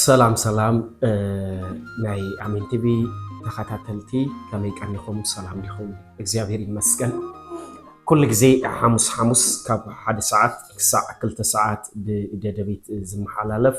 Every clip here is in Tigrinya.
ሰላም ሰላም ናይ ኣሜን ቲቪ ተኸታተልቲ ከመይ ቀኒኹም? ሰላም ዲኹም? እግዚኣብሔር ይመስገን። ኩሉ ግዜ ሓሙስ ሓሙስ ካብ ሓደ ሰዓት ክሳዕ ክልተ ሰዓት ብደደቢት ዝመሓላለፍ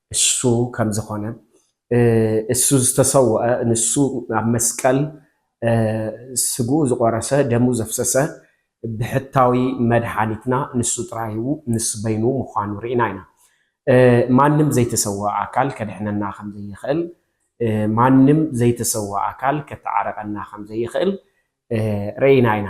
እሱ ከምዝኾነ እሱ ዝተሰወኣ ንሱ ኣብ መስቀል ስግኡ ዝቆረሰ ደሙ ዘፍሰሰ ብሕታዊ መድሓኒትና ንሱ ጥራይ ንሱ በይኑ ምዃኑ ርኢና ኢና። ማንም ዘይተሰወኣ ኣካል ከድሕነና ከምዘይኽእል ማንም ዘይተሰወኣ ኣካል ከተዓርቀና ከምዘይኽእል ርኢና ኢና።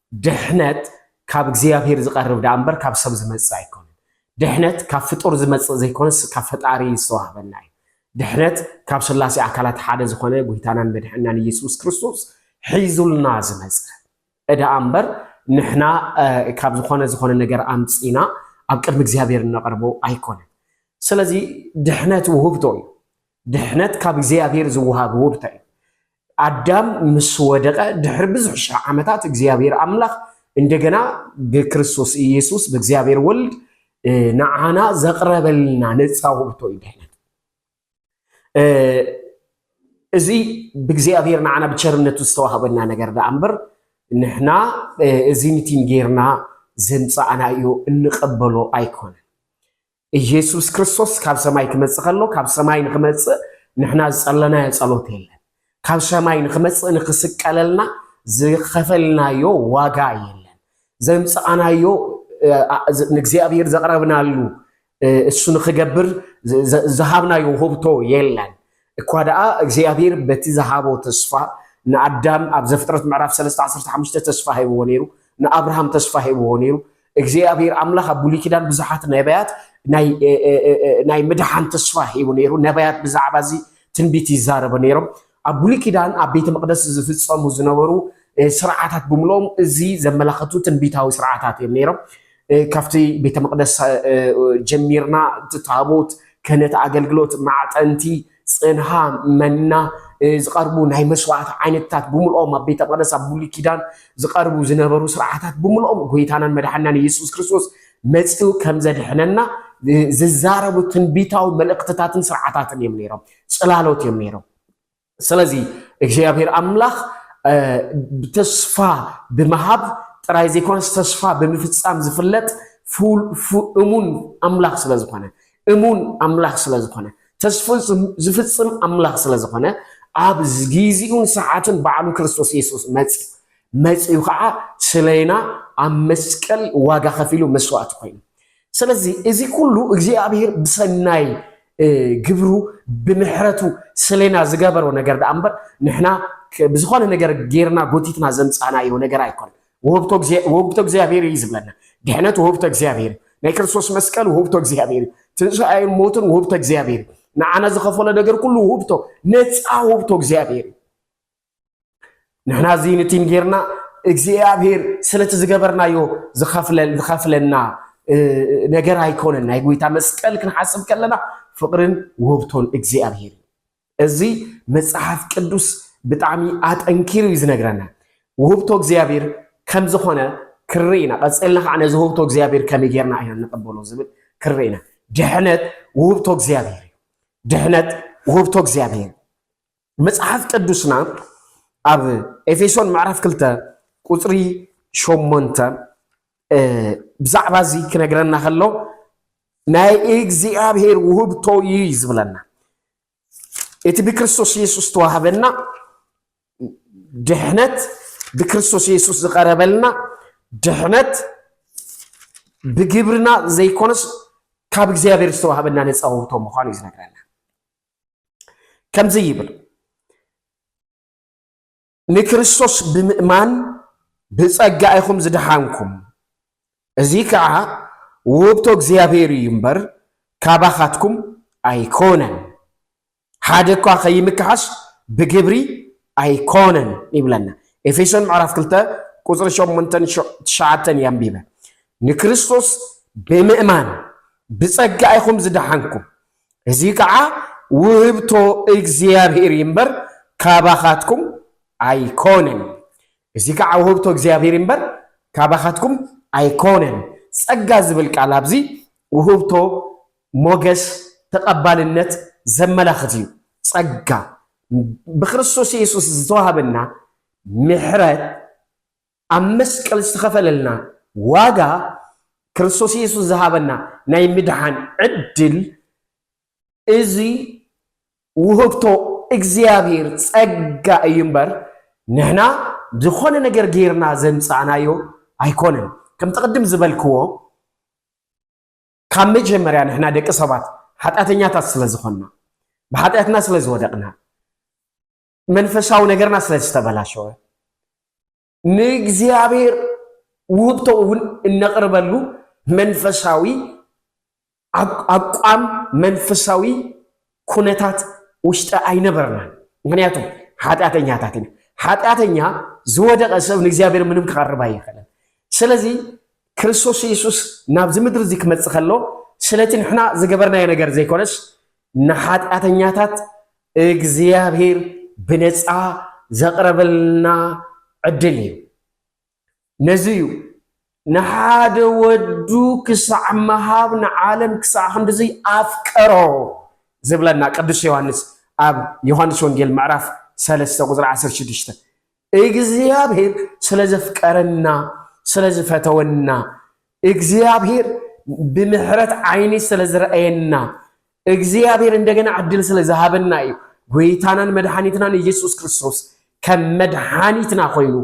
ድሕነት ካብ እግዚኣብሄር ዝቐርብ ደኣ እምበር ካብ ሰብ ዝመጽእ ኣይኮነን። ድሕነት ካብ ፍጡር ዝመጽእ ዘይኮነስ ካብ ፈጣሪ ዝተዋህበና እዩ። ድሕነት ካብ ስላሴ ኣካላት ሓደ ዝኾነ ጎይታናን መድሕንናን ኢየሱስ ክርስቶስ ሒዙልና ዝመጸ እደኣ እምበር ንሕና ካብ ዝኾነ ዝኾነ ነገር ኣምጺና ኣብ ቅድሚ እግዚኣብሄር እነቐርቦ ኣይኮነን። ስለዚ ድሕነት ውህብቶ እዩ። ድሕነት ካብ እግዚኣብሄር ዝወሃብ ውህብቶ እዩ። ኣዳም ምስ ወደቐ ድሕሪ ብዙሕ ሽሕ ዓመታት እግዚኣብሔር ኣምላኽ እንደገና ብክርስቶስ ኢየሱስ ብእግዚኣብሔር ወልድ ንዓና ዘቕረበልና ነፃ ውእቶ እዩ ድሕነት እዚ ብእግዚኣብሔር ንዓና ብቸርነቱ ዝተዋህበና ነገር ደኣ እምበር ንሕና እዚ ንቲን ጌርና ዘምፃእና እዩ እንቐበሎ ኣይኮነን። እየሱስ ክርስቶስ ካብ ሰማይ ክመጽእ ከሎ ካብ ሰማይ ንክመጽእ ንሕና ዝጸለናዮ ጸሎት የለን። ካብ ሰማይ ንክመጽእ ንክስቀለልና ዝኸፈልናዮ ዋጋ የለን። ዘምጽኣናዮ ንእግዚኣብሔር ዘቕረብናሉ እሱ ንክገብር ዝሃብናዮ ውህብቶ የለን። እኳ ደኣ እግዚኣብሄር በቲ ዝሃቦ ተስፋ ንኣዳም ኣብ ዘፍጥረት ምዕራፍ ሰለስተ ዓሰርተ ሓሙሽተ ተስፋ ሂብዎ ነይሩ፣ ንኣብርሃም ተስፋ ሂብዎ ነይሩ። እግዚኣብሄር ኣምላኽ ኣብ ብሉይ ኪዳን ብዙሓት ነብያት ናይ ምድሓን ተስፋ ሂቡ ነይሩ። ነብያት ብዛዕባ እዚ ትንቢት ይዛረቡ ነይሮም። ኣብ ብሉይ ኪዳን ኣብ ቤተ መቕደስ ዝፍጸሙ ዝነበሩ ስርዓታት ብምልኦም እዚ ዘመላኸቱ ትንቢታዊ ስርዓታት እዮም ነይሮም። ካብቲ ቤተ መቕደስ ጀሚርና እቲ ታቦት ክህነት ኣገልግሎት ማዕጠንቲ ፅንሃ መና ዝቐርቡ ናይ መስዋዕቲ ዓይነትታት ብምልኦም ኣብ ቤተ መቅደስ ኣብ ብሉይ ኪዳን ዝቐርቡ ዝነበሩ ስርዓታት ብምልኦም ጎይታናን መድሓናን ኢየሱስ ክርስቶስ መፂኡ ከም ዘድሕነና ዝዛረቡ ትንቢታዊ መልእኽትታትን ስርዓታትን እዮም ነይሮም። ፅላሎት እዮም ነይሮም። ስለዚ እግዚኣብሔር ኣምላኽ ተስፋ ብምሃብ ጥራይ ዘይኮነስ ተስፋ ብምፍጻም ዝፍለጥ እሙን ኣምላኽ ስለ ዝኾነ እሙን ኣምላኽ ስለ ዝኾነ ተስፉ ዝፍጽም ኣምላኽ ስለ ዝኾነ ኣብ ግዜኡን ሰዓትን ባዕሉ ክርስቶስ የሱስ መጽዩ መጽዩ ከዓ ስለና ኣብ መስቀል ዋጋ ከፊሉ መስዋእቲ ኮይኑ ስለዚ እዚ ኩሉ እግዚኣብሔር ብሰናይ ግብሩ ብምሕረቱ ስሌና ዝገበሮ ነገር ደኣ እምበር ንሕና ብዝኾነ ነገር ጌርና ጎቲትና ዘምጻናዮ ነገር ኣይኮነ ወህብቶ እግዚኣብሔር እዩ ዝብለና ድሕነት ወህብቶ እግዚኣብሔር ናይ ክርስቶስ መስቀል ወህብቶ እግዚኣብሔር እዩ ትንሣኤን ሞትን ወህብቶ እግዚኣብሔር ንዓና ዝኸፈሎ ነገር ኩሉ ወህብቶ ነፃ ወህብቶ እግዚኣብሔር እዩ ንሕና እዚ ንቲን ጌርና እግዚኣብሔር ስለቲ ዝገበርናዮ ዝኸፍለና ነገር ኣይኮነን። ናይ ጎይታ መስቀል ክንሓስብ ከለና ፍቕርን ውህብቶን እግዚኣብሔር እዚ መጽሓፍ ቅዱስ ብጣዕሚ ኣጠንኪሩ እዩ ዝነግረና። ውህብቶ እግዚኣብሔር ከም ዝኾነ ክርኢ ኢና። ቀፂልና ከዓ ነዚ ውህብቶ እግዚኣብሔር ከመይ ጌርና ኢና ንቐበሎ ዝብል ክርኢ ኢና። ድሕነት ውህብቶ እግዚኣብሔር እዩ። ድሕነት ውህብቶ እግዚኣብሔር መጽሓፍ ቅዱስና ኣብ ኤፌሶን ምዕራፍ ክልተ ቁጽሪ ሸሞንተ ብዛዕባ እዚ ክነግረና ከሎ ናይ እግዚኣብሔር ውህብቶ እዩ ዝብለና እቲ ብክርስቶስ ኢየሱስ ተዋህበና ድሕነት ብክርስቶስ ኢየሱስ ዝቀረበልና ድሕነት ብግብርና ዘይኮነስ ካብ እግዚኣብሔር ዝተዋህበና ነፃ ውህብቶ ምዃኑ እዩ ዝነግረና ከምዚ ይብል ንክርስቶስ ብምእማን ብጸጋ ኢኹም ዝደሓንኩም እዚ ከዓ ውህብቶ እግዚኣብሔር እዩ እምበር ካባኻትኩም ኣይኮነን ሓደ እኳ ከይምክሓስ ብግብሪ ኣይኮነን ይብለና ኤፌሶን ምዕራፍ 2 ቁፅሪ 8 ትሽዓተን የንቢበ ንክርስቶስ ብምእማን ብጸጋ ኢኹም ዝደሓንኩም እዚ ከዓ ውህብቶ እግዚኣብሔር እዩ እምበር ካባኻትኩም ኣይኮነን። እዚ ከዓ ውህብቶ እግዚኣብሔር እዩ እምበር ካባኻትኩም ኣይኮነን። ጸጋ ዝብል ቃል ኣብዚ ውህብቶ፣ ሞገስ፣ ተቐባልነት ዘመላኽት እዩ። ጸጋ ብክርስቶስ ኢየሱስ ዝተዋህበና ምሕረት ኣብ መስቀል ዝተኸፈለልና ዋጋ ክርስቶስ ኢየሱስ ዝሃበና ናይ ምድሓን ዕድል እዚ ውህብቶ እግዚኣብሔር ጸጋ እዩ እምበር ንሕና ዝኾነ ነገር ጌርና ዘምጻእናዮ ኣይኮነን። ከምቲ ቅድም ዝበልክዎ ካብ መጀመርያ ንሕና ደቂ ሰባት ሓጢኣተኛታት ስለ ዝኾንና ብሓጢኣትና ስለ ዝወደቕና መንፈሳዊ ነገርና ስለ ዝተበላሸወ ንእግዚኣብሔር ውህብቶ እውን እነቕርበሉ መንፈሳዊ ኣቋም መንፈሳዊ ኩነታት ውሽጢ ኣይነበርናን። ምክንያቱ ሓጢኣተኛታት ኢና። ሓጢኣተኛ ዝወደቐ ሰብ ንእግዚኣብሔር ምንም ክቐርብ ኣይኽእልን። ስለዚ ክርስቶስ የሱስ ናብዚ ምድሪ እዚ ክመፅእ ከሎ ስለቲ ንሕና ዝገበርናዮ ነገር ዘይኮነስ ንሓጢኣተኛታት እግዚኣብሔር ብነፃ ዘቕረበልና ዕድል እዩ። ነዚ እዩ ንሓደ ወዱ ክሳዕ ምሃብ ንዓለም ክሳዕ ክንድዚ ኣፍቀሮ ዝብለና ቅዱስ ዮሃንስ ኣብ ዮሃንስ ወንጌል ምዕራፍ ሰለስተ ቁፅሪ ዓሰርተ ሽዱሽተ እግዚኣብሔር ስለ ዘፍቀረና ስለ ዝፈተወና እግዚኣብሔር ብምሕረት ዓይኒ ስለ ዝረኣየና እግዚኣብሔር እንደገና ዕድል ስለ ዝሃበና እዩ ጎይታናን መድሓኒትናን ኢየሱስ ክርስቶስ ከም መድሓኒትና ኮይኑ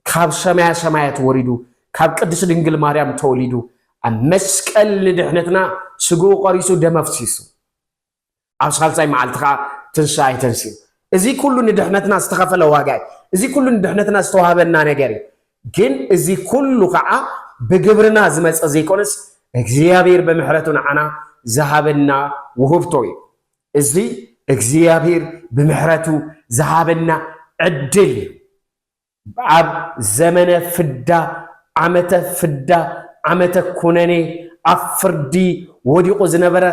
ካብ ሰማያ ሰማያት ወሪዱ ካብ ቅድስት ድንግል ማርያም ተወሊዱ ኣብ መስቀል ንድሕነትና ስግኡ ቆሪሱ ደመፍሲሱ ኣብ ሳልሳይ መዓልቲ ከኣ ትንሳኤ ተንሲኡ። እዚ ኩሉ ንድሕነትና ዝተኸፈለ ዋጋ እዩ። እዚ ኩሉ ንድሕነትና ዝተዋህበና ነገር እዩ። ግን እዚ ኩሉ ከኣ ብግብርና ዝመጸ ዘይኮነስ እግዚኣብሔር ብምሕረቱ ንዓና ዝሃበና ውህብቶ እዩ። እዚ እግዚኣብሔር ብምሕረቱ ዝሃበና ዕድል እዩ። ኣብ ዘመነ ፍዳ፣ ዓመተ ፍዳ፣ ዓመተ ኩነኔ፣ ኣብ ፍርዲ ወዲቑ ዝነበረ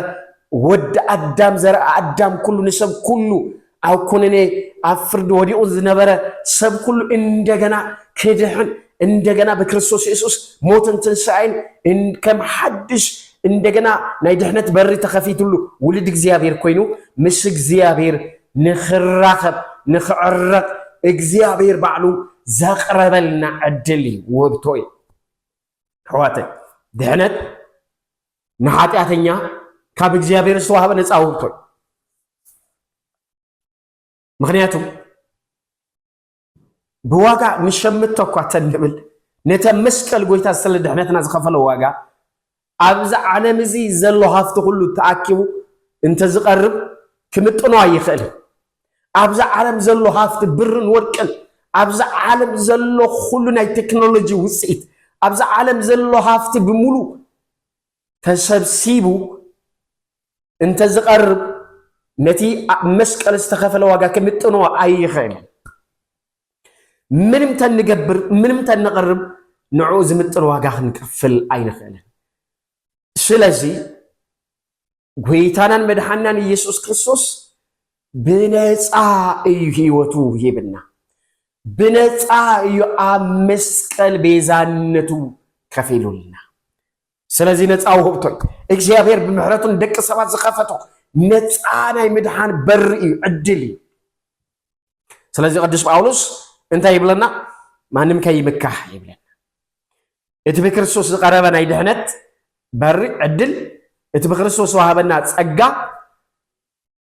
ወዲ ኣዳም ዘርኢ ኣዳም ኩሉ ንሰብ ኩሉ ኣብ ኩነኔ ኣብ ፍርዲ ወዲቑ ዝነበረ ሰብ ኩሉ እንደገና ክድሕን እንደገና ብክርስቶስ የሱስ ሞትን ትንሳኤን ከም ሓድሽ እንደገና ናይ ድሕነት በሪ ተኸፊትሉ ውልድ እግዚኣብሔር ኮይኑ ምስ እግዚኣብሔር ንኽራኸብ ንኽዕረቕ እግዚኣብሔር ባዕሉ ዘቕረበልና ዕድል እዩ፣ ውህብቶ እዩ። ኣሕዋተይ ድሕነት ንሓጢኣተኛ ካብ እግዚኣብሔር ዝተዋህበ ነፃ ውህብቶ እዩ። ምክንያቱ ብዋጋ ንሸምቶ እኳ ተንብል ነቲ መስቀል ጎይታ ስለ ድሕነትና ዝኸፈሎ ዋጋ ኣብዚ ዓለም እዚ ዘሎ ሃፍቲ ኩሉ ተኣኪቡ እንተ ዝቐርብ ክምጥኖ ኣይኽእልን። ኣብዚ ዓለም ዘሎ ሃፍቲ ብርን ወርቅን ኣብዚ ዓለም ዘሎ ኩሉ ናይ ቴክኖሎጂ ውጽኢት ኣብዚ ዓለም ዘሎ ሃፍቲ ብምሉ ተሰብሲቡ እንተዝቐርብ ነቲ ኣብ መስቀል ዝተኸፈለ ዋጋ ክምጥኖ ኣይኽእል። ምንም ተንገብር ምንም ተነቕርብ ንዕኡ ዝምጥን ዋጋ ክንከፍል ኣይንኽእልን። ስለዚ ጎይታናን መድሓናን ኢየሱስ ክርስቶስ ብነፃ እዩ ህይወቱ ሂብና፣ ብነፃ እዩ ኣብ መስቀል ቤዛነቱ ከፊሉልና። ስለዚ ነፃ ውህብቶይ እግዚኣብሔር ብምሕረቱ ንደቂ ሰባት ዝኸፈቶ ነፃ ናይ ምድሓን በሪ እዩ ዕድል እዩ ስለዚ ቅዱስ ጳውሎስ እንታይ ይብለና ማንም ከይምካሕ ይብለና እቲ ብክርስቶስ ዝቀረበ ናይ ድሕነት በሪ ዕድል እቲ ብክርስቶስ ዝዋሃበና ፀጋ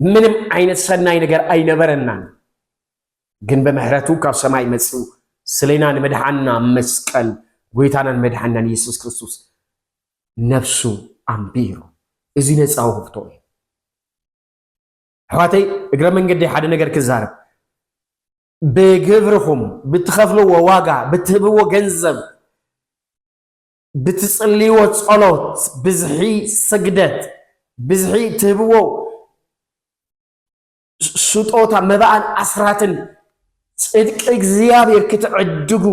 ምንም ዓይነት ሰናይ ነገር ኣይነበረናን፣ ግን ብምሕረቱ ካብ ሰማይ መጽኡ ስሌና ንምድሓና መስቀል ጎይታናን መድሓናን ኢየሱስ ክርስቶስ ነፍሱ ኣንቢሩ። እዚ ነፃ ውህብቶ እዩ። ኣሕዋተይ እግረ መንገዲ ሓደ ነገር ክዛረብ ብግብርኹም ብትኸፍልዎ ዋጋ ብትህብዎ ገንዘብ ብትጽልይዎ ጸሎት ብዝሒ ስግደት ብዝሒ ትህብዎ ስጦታ መባእን ኣስራትን ጽድቂ እግዚኣብሔር ክትዕድጉ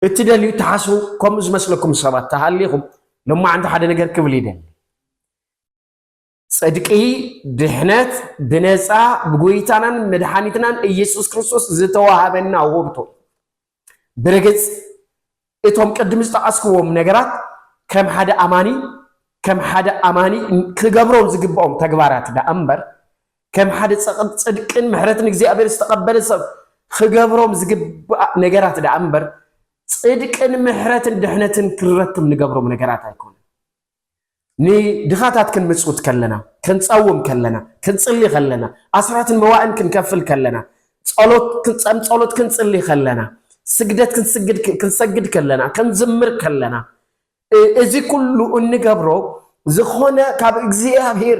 እትደልዩ እትሓስቡ ከምኡ ዝመስለኩም ሰባት ተሃሊኹም ሎማዓንቲ ሓደ ነገር ክብል ይደሊ ጽድቂ፣ ድሕነት፣ ብነጻ ብጎይታናን መድሓኒትናን ኢየሱስ ክርስቶስ ዝተዋሃበና ውህብቶ። ብርግጽ እቶም ቅድም ዝጠቐስክዎም ነገራት ከም ሓደ ኣማኒ ከም ሓደ ኣማኒ ክገብሮም ዝግብኦም ተግባራት ደኣ እምበር ከም ሓደ ጽድቅን ምሕረትን እግዚኣብሔር ዝተቐበለ ሰብ ክገብሮም ዝግባእ ነገራት ደኣ እምበር ጽድቅን ምሕረትን ድሕነትን ክንረክብ ንገብሮም ነገራት ኣይኮነ ንድኻታት ክንምጽውት ከለና፣ ክንጸውም ከለና፣ ክንጽሊ ከለና፣ ኣስራትን መባእን ክንከፍል ከለና፣ ጸሎት ክንጸም ጸሎት ክንጽሊ ከለና፣ ስግደት ክንስግድ ክንሰግድ ከለና፣ ክንዝምር ከለና፣ እዚ ኩሉ እንገብሮ ዝኾነ ካብ እግዚኣብሔር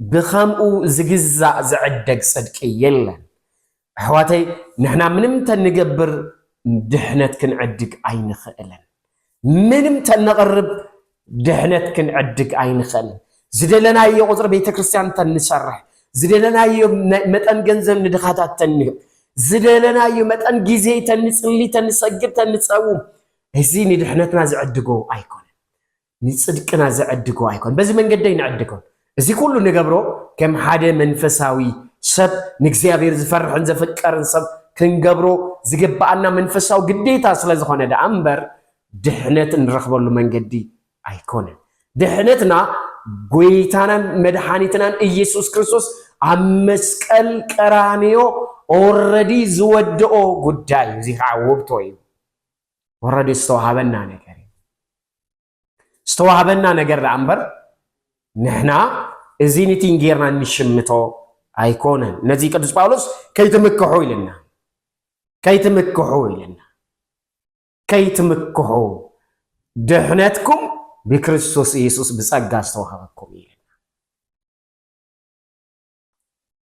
ብኸምኡ ዝግዛእ ዝዕደግ ጽድቂ የለን። ኣሕዋተይ ንሕና ምንም ተንገብር ድሕነት ክንዕድግ ኣይንኽእልን። ምንም ተነቕርብ ድሕነት ክንዕድግ ኣይንኽእልን። ዝደለናዮ ቁጽሪ ቤተ ክርስቲያን ተንሰርሕ፣ ዝደለናዮ መጠን ገንዘብ ንድኻታት ተንህብ፣ ዝደለናዮ መጠን ግዜ ተንጽሊ፣ ተንሰግድ፣ ተንጸውም እዚ ንድሕነትና ዝዕድጎ ኣይኮነን። ንጽድቅና ዝዕድጎ ኣይኮን በዚ መንገዲ ኣይንዕድጎን እዚ ኩሉ ንገብሮ ከም ሓደ መንፈሳዊ ሰብ ንእግዚኣብሔር ዝፈርሕን ዘፍቀርን ሰብ ክንገብሮ ዝግብኣና መንፈሳዊ ግዴታ ስለ ዝኾነ ደኣ እምበር ድሕነት እንረኽበሉ መንገዲ ኣይኮነን ድሕነትና ጎይታናን መድሓኒትናን ኢየሱስ ክርስቶስ ኣብ መስቀል ቀራንዮ ኦረዲ ዝወድኦ ጉዳይ እዩ እዚ ከዓ ውብቶ እዩ ወረዲ ዝተዋሃበና ነገር እዩ ዝተዋሃበና ነገር ደኣ እምበር ንሕና እዚ ኒቲን ጌርና እንሽምቶ ኣይኮነን ነዚ ቅዱስ ጳውሎስ ከይትምክሑ ኢልና ከይትምክሑ ኢልና ከይትምክሑ ድሕነትኩም ብክርስቶስ ኢየሱስ ብጸጋ ዝተዋሃበኩም እዩ ኢልና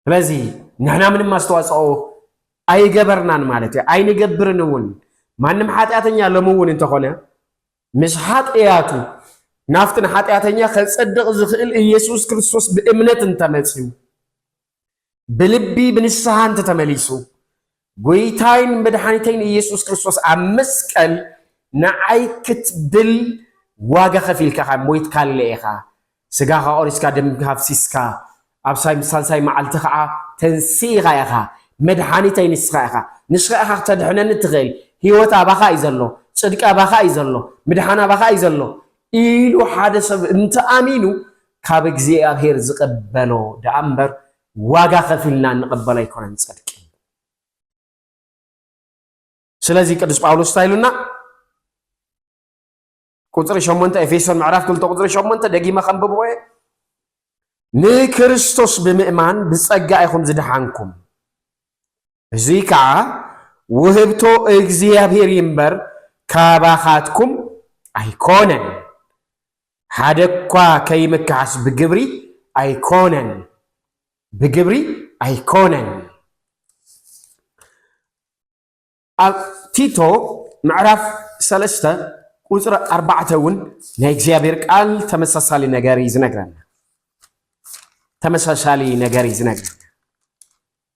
ስለዚህ ንሕና ምንም ኣስተዋፅኦ ኣይገበርናን ማለት እዩ ኣይንገብርን እውን ማንም ሓጢኣተኛ ሎሚ እውን እንተኾነ ምስ ሓጢኣቱ ናብቲ ንሓጢኣተኛ ከፀድቕ ዝኽእል ኢየሱስ ክርስቶስ ብእምነት እንተመፅዩ ብልቢ ብንስሓ እንተተመሊሱ ጎይታይን መድሓኒተይን እየሱስ ክርስቶስ ኣብ መስቀል ንዓይ ክትብል ዋጋ ከፊልካ ኢኻ፣ ሞይትካለ ኢኻ፣ ስጋኻ ቆሪስካ ደምካ ኣፍሲስካ ኣብ ሳልሳይ መዓልቲ ኸዓ ተንሲእኻ ኢኻ፣ መድሓኒተይ ንስኻ ኢኻ፣ ንስኻ ኢኻ ክተድሕነኒ እትኽእል፣ ህይወት ኣባኻ እዩ ዘሎ፣ ፅድቂ ኣባኻ እዩ ዘሎ፣ ምድሓን ኣባኻ እዩ ዘሎ ኢሉ ሓደ ሰብ እንተኣሚኑ ካብ እግዚኣብሔር ዝቕበሎ ደኣ እምበር ዋጋ ከፊልና እንቕበሎ ኣይኮነን ጽድቂ። ስለዚ ቅዱስ ጳውሎስ እንታይ ኢሉና? ቁጽሪ ሸሞንተ ኤፌሶን ምዕራፍ ክልተ ቁጽሪ ሸሞንተ ደጊመ ከንብቦ እየ ንክርስቶስ ብምእማን ብጸጋ ኢኹም ዝደሓንኩም እዙይ ከዓ ውህብቶ እግዚኣብሔር እዩ እምበር ካባኻትኩም ኣይኮነን። ሓደ እኳ ከይምከሓስ ብግብሪ ኣይኮነን ብግብሪ ኣይኮነን። ኣብ ቲቶ ምዕራፍ ሰለስተ ቁፅሪ ኣርባዕተ እውን ናይ እግዚኣብሔር ቃል ተመሳሳሊ ነገር እዩ ዝነግረና ተመሳሳሊ ነገር እዩ ዝነግረና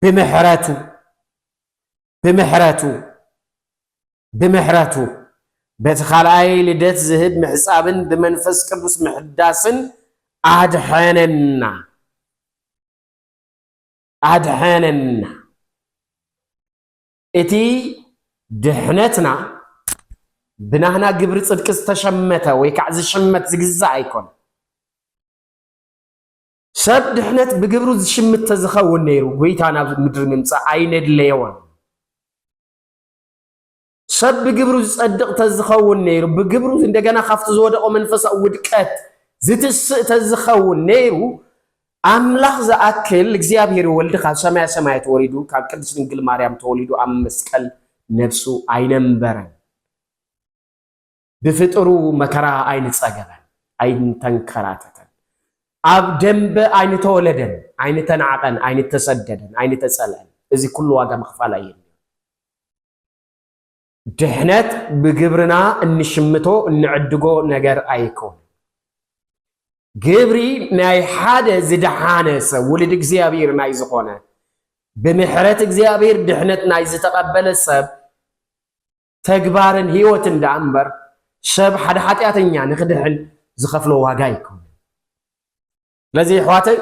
ብምሕረቱ ብምሕረቱ ብምሕረቱ በቲ ካልኣይ ልደት ዝህብ ምሕፃብን ብመንፈስ ቅዱስ ምሕዳስን ኣድሐነና ኣድሐነና እቲ ድሕነትና ብናህና ግብሪ ፅድቂ ዝተሸመተ ወይ ከዓ ዝሽመት ዝግዛእ ኣይኮነ ሰብ ድሕነት ብግብሩ ዝሽምት ተዝኸውን ነይሩ ጎይታ ናብ ምድሪ ምምጻእ ኣይነድለዮን። ሰብ ብግብሩ ዝጸድቕ ተዝኸውን ነይሩ ብግብሩ እንደገና ካብቲ ዝወደቆ መንፈሳዊ ውድቀት ዝትስእ ተዝኸውን ነይሩ ኣምላኽ ዝኣክል እግዚኣብሔር ወልድ ካብ ሰማያ ሰማያት ወሪዱ ካብ ቅድስት ድንግል ማርያም ተወሊዱ ኣብ መስቀል ነፍሱ ኣይነምበረን። ብፍጥሩ መከራ ኣይንጸገበን፣ ኣይንተንከራተተን። ኣብ ደምበ ኣይንተወለደን፣ ኣይንተናዕቀን፣ ኣይንተሰደደን፣ ኣይንተጸልአን። እዚ ኩሉ ዋጋ ምኽፋል ኣየድልዮን። ድሕነት ብግብርና እንሽምቶ እንዕድጎ ነገር ኣይኮነን። ግብሪ ናይ ሓደ ዝደሓነ ሰብ ውልድ እግዚኣብሔር ናይ ዝኾነ ብምሕረት እግዚኣብሔር ድሕነት ናይ ዝተቐበለ ሰብ ተግባርን ህይወትን ደኣ እምበር ሰብ ሓደ ሓጢኣተኛ ንኽድሕን ዝኸፍሎ ዋጋ ኣይኮነን። ስለዚ ኣሕዋተይ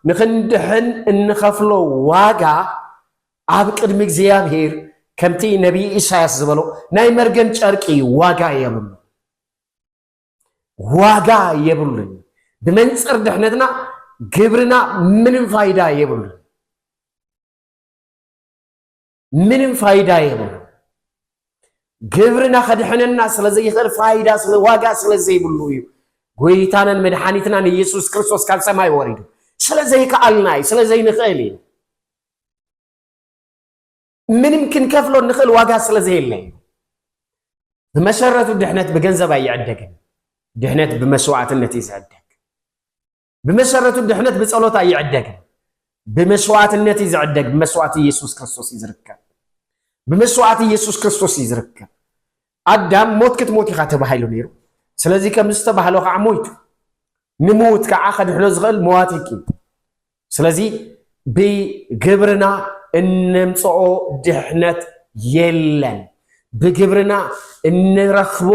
ንኽንድሕን እንኸፍሎ ዋጋ ኣብ ቅድሚ እግዚኣብሔር ከምቲ ነቢይ ኢሳያስ ዝበሎ ናይ መርገም ጨርቂ ዋጋ የብሉ ዋጋ የብሉን። ብመንፅር ድሕነትና ግብርና ምንም ፋይዳ የብሉን። ምንም ፋይዳ የብሉ ግብርና ከድሕነና ስለ ዘይኽእል ፋይዳ ስለ ዋጋ ስለ ዘይብሉ እዩ ጎይታናን መድሓኒትናን ኢየሱስ ክርስቶስ ካብ ሰማይ ወሪዱ ስለ ዘይከኣልና እዩ ስለ ዘይንኽእል እዩ ምንም ክንከፍሎ ንኽእል ዋጋ ስለ ዘየለ እዩ ብመሰረቱ ድሕነት ብገንዘብ ኣይዕደግን ድሕነት ብመስዋዕትነት እዩ ዝዕደግ ብመሰረቱ ድሕነት ብጸሎት ኣይዕደግን። ብመስዋዕትነት እዩ ዝዕደግ። ብመስዋዕቲ ኢየሱስ ክርስቶስ እዩ ዝርከብ። ብመስዋዕቲ ኢየሱስ ክርስቶስ እዩ ዝርከብ። ኣዳም ሞት ክትሞት ኢኻ ተባሂሉ ነይሩ። ስለዚ ከም ዝተባህሎ ከዓ ሞይቱ። ንምውት ከዓ ከድሕኖ ዝኽእል መዋቲ እዩ። ስለዚ ብግብርና እነምጽኦ ድሕነት የለን፣ ብግብርና እንረኽቦ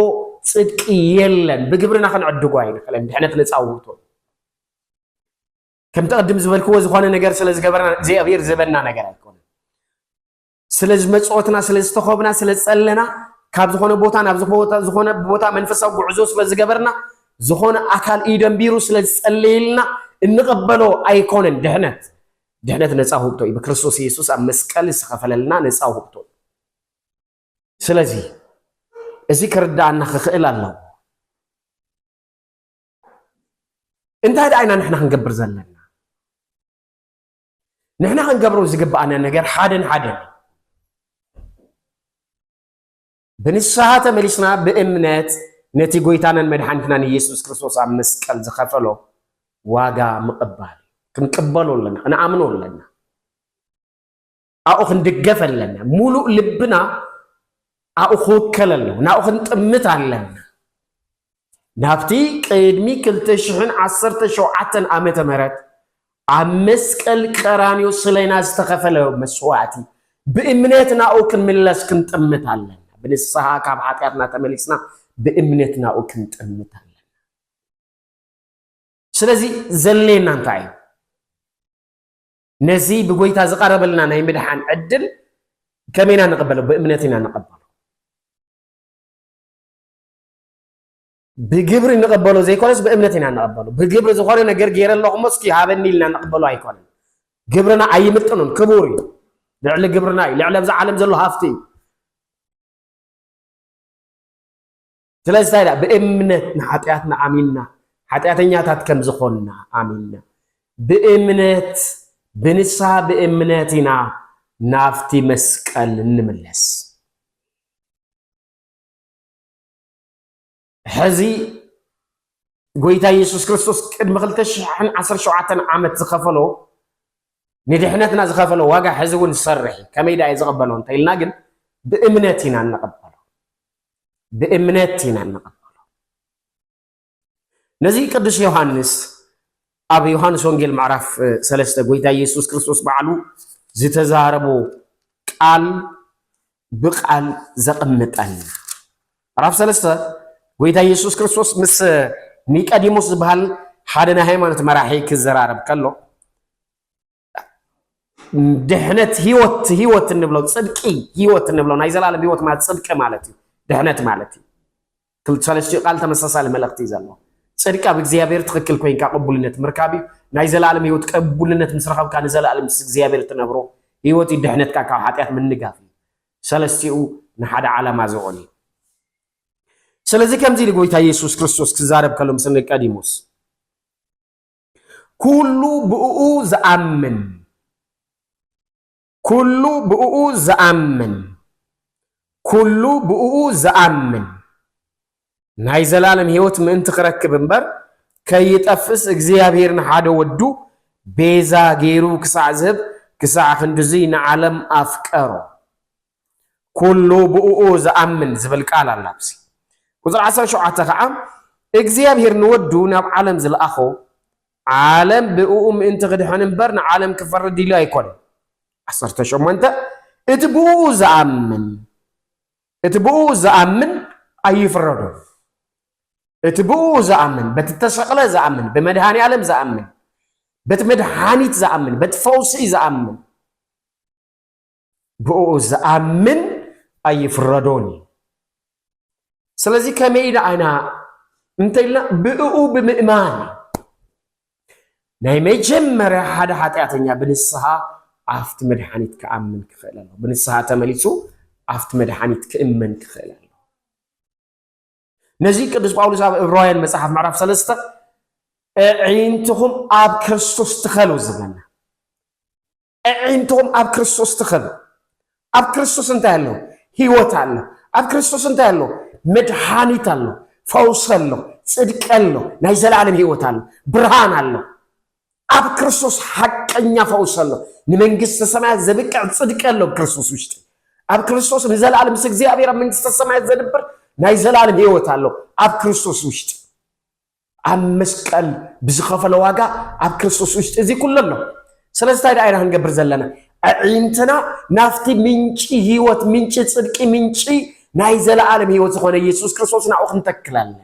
ጽድቂ የለን፣ ብግብርና ክንዕድጎ ኣይንኽእለን፣ ድሕነት ነፃ ውህብቶ እዩ። ከምቲ ቅድም ዝበልክዎ ዝኾነ ነገር ስለ ዝገበርና እግዚኣብሔር ዝህበና ነገር ኣይኮነን። ስለ ዝመጽወትና ስለ ዝተኸብና ስለ ዝጸለና ካብ ዝኾነ ቦታ ናብ ዝኾነ ቦታ መንፈሳዊ ጉዕዞ ስለ ዝገበርና ዝኾነ ኣካል እዩ ደንቢሩ ስለ ዝጸለየልና እንቕበሎ ኣይኮነን ድሕነት ድሕነት ነፃ ውህብቶ እዩ ብክርስቶስ ኢየሱስ ኣብ መስቀል ዝተኸፈለልና ነፃ ውህብቶ ስለዚ እዚ ክርዳኣና ክኽእል ኣለዎ እንታይ ደኣ ኢና ንሕና ክንገብር ዘለና ንሕና ክንገብሮ ዝግብኣና ነገር ሓደን ሓደን ብንስሓ ተመሊስና ብእምነት ነቲ ጎይታናን መድሓኒትናን ኢየሱስ ክርስቶስ ኣብ መስቀል ዝኸፈሎ ዋጋ ምቕባል ክንቅበሎ ኣለና ክንኣምኖ ኣለና ኣብኡ ክንድገፍ ኣለና ሙሉእ ልብና ኣብኡ ክውከል ኣለዎ፣ ናብኡ ክንጥምት ኣለና። ናብቲ ቅድሚ ክልተ ሽሕን ዓሰርተ ሸውዓተን ዓመተ ምህረት ኣብ መስቀል ቀራንዮ ስለና ዝተኸፈለ መስዋእቲ ብእምነት ናብኡ ክንምለስ ክንጥምት ኣለና። ብንስሓ ካብ ሓጢኣትና ተመሊስና ብእምነት ናብኡ ክንጥምት ኣለና። ስለዚ ዘሌና እንታይ እዩ? ነዚ ብጎይታ ዝቐረበልና ናይ ምድሓን ዕድል ከመይ ኢና ንቕበሎ? ብእምነት ኢና ንቐበሎ። ብግብሪ ንቐበሎ ዘይኮነስ ብእምነት ኢና ንቐበሎ። ብግብሪ ዝኾነ ነገር ገይረ ኣለኹሞ እስኪ ሃበኒ ኢልና ንቕበሎ ኣይኮነን። ግብርና ኣይምጥኑን፣ ክቡር እዩ። ልዕሊ ግብርና እዩ፣ ልዕሊ ኣብዛ ዓለም ዘሎ ሃፍቲ እዩ። ስለዚ እንታይ ኢላ? ብእምነት ንሓጢኣትና ኣሚንና፣ ሓጢኣተኛታት ከም ዝኾንና ኣሚንና፣ ብእምነት፣ ብንስሃ ብእምነት ኢና ናብቲ መስቀል እንምለስ። ሕዚ ጎይታ ኢየሱስ ክርስቶስ ቅድሚ 2017 ዓመት ዝኸፈሎ ንድሕነትና ዝኸፈሎ ዋጋ ሕዚ እውን ዝሰርሕ እዩ። ከመይ ደኣ እዩ ዝቐበሎ እንተኢልና ግን ብእምነት ኢና እንቐበሎ። ብእምነት ኢና እንቕበሎ። ነዚ ቅዱስ ዮሃንስ ኣብ ዮሃንስ ወንጌል ምዕራፍ ሰለስተ ጎይታ ኢየሱስ ክርስቶስ ባዕሉ ዝተዛረቦ ቃል ብቃል ዘቕምጠልና ምዕራፍ ሰለስተ ጎይታ ኢየሱስ ክርስቶስ ምስ ኒቀዲሞስ ዝበሃል ሓደ ናይ ሃይማኖት መራሒ ክዘራረብ ከሎ ድሕነት ህይወት ህይወት እንብሎ ፅድቂ ህይወት እንብሎ ናይ ዘላለም ህይወት ማለት ፅድቂ ማለት እዩ ድሕነት ማለት እዩ ክልተ ሰለስትኡ ቃል ተመሳሳሊ መልእኽቲ እዩ ዘለዎ ፅድቂ ኣብ እግዚኣብሔር ትኽክል ኮይንካ ቅቡልነት ምርካብ እዩ ናይ ዘላለም ህይወት ቅቡልነት ምስ ረኸብካ ንዘላለም ምስ እግዚኣብሔር ትነብሮ ህይወት እዩ ድሕነትካ ካብ ሓጢኣት ምንጋፍ እዩ ሰለስትኡ ንሓደ ዓላማ ዝውዕል እዩ ስለዚ ከምዚ ኢሉ ጎይታ ኢየሱስ ክርስቶስ ክዛረብ ከሎ ምስ ኒቆዲሞስ ኩሉ ብእኡ ዝኣምን ኩሉ ብእኡ ዝኣምን ኩሉ ብእኡ ዝኣምን ናይ ዘላለም ህይወት ምእንቲ ክረክብ እምበር ከይጠፍስ እግዚኣብሔር ንሓደ ወዱ ቤዛ ገይሩ ክሳዕ ዝህብ ክሳዕ ክንድዙይ ንዓለም ኣፍቀሮ። ኩሉ ብእኡ ዝኣምን ዝብል ቃል ኣላ ኣብዚ ቁጽሪ ዓሰርተ ሸውዓተ ከኣ እግዚኣብሄር ንወዱ ናብ ዓለም ዝልኣኾ ዓለም ብእኡ ምእንቲ ክድሕን እምበር ንዓለም ክፈርድ ኢሉ ኣይኮነን ዓሰርተ ሸሞንተ እቲ ብእኡ ዝኣምን እቲ ብእኡ ዝኣምን ኣይፍረዶን እቲ ብእኡ ዝኣምን በቲ ተሰቕለ ዝኣምን ብመድሃኒ ኣለም ዝኣምን በቲ መድሃኒት ዝኣምን በቲ ፈውሲ ዝኣምን ብእኡ ዝኣምን ኣይፍረዶን እዩ። ስለዚ ከመይ ደኣ ኢና እንተኢልና ብእኡ ብምእማን ናይ መጀመርያ ሓደ ሓጢኣተኛ ብንስሃ ኣብቲ መድሓኒት ክኣምን ክኽእል ኣሎ ብንስሃ ተመሊሱ ኣብቲ መድሓኒት ክእመን ክኽእል ኣሎ ነዚ ቅዱስ ጳውሎስ ኣብ እብራውያን መጽሓፍ ምዕራፍ ሰለስተ ኣዒንትኹም ኣብ ክርስቶስ ትኸሉ ዝበና ኣዒንቶም ኣብ ክርስቶስ ትኸል። ኣብ ክርስቶስ እንታይ ኣሎ? ህይወት ኣሎ። ኣብ ክርስቶስ እንታይ ኣሎ? መድሃኒት ኣሎ፣ ፈውሲ ኣሎ፣ ጽድቂ ኣሎ፣ ናይ ዘለኣለም ህይወት ኣሎ፣ ብርሃን ኣሎ። ኣብ ክርስቶስ ሓቀኛ ፈውሲ ኣሎ። ንመንግስተ ሰማያት ዘብቅዕ ጽድቂ ኣሎ ኣብ ክርስቶስ ውሽጢ። ኣብ ክርስቶስ ንዘለኣለም ምስ እግዚኣብሔር ኣብ መንግስተ ሰማያት ዘድብር ናይ ዘላለም ህይወት ኣሎ ኣብ ክርስቶስ ውሽጢ ኣብ መስቀል ብዝኸፈሎ ዋጋ ኣብ ክርስቶስ ውሽጢ እዚ ኩሉ ኣሎ። ስለዚ እንታይ ደኣ ኢና ክንገብር ዘለና? ኣዒንትና ናብቲ ምንጪ ህይወት፣ ምንጪ ጽድቂ፣ ምንጪ ናይ ዘለኣለም ህይወት ዝኾነ ኢየሱስ ክርስቶስ ናብኡ ክንተክል ኣለና።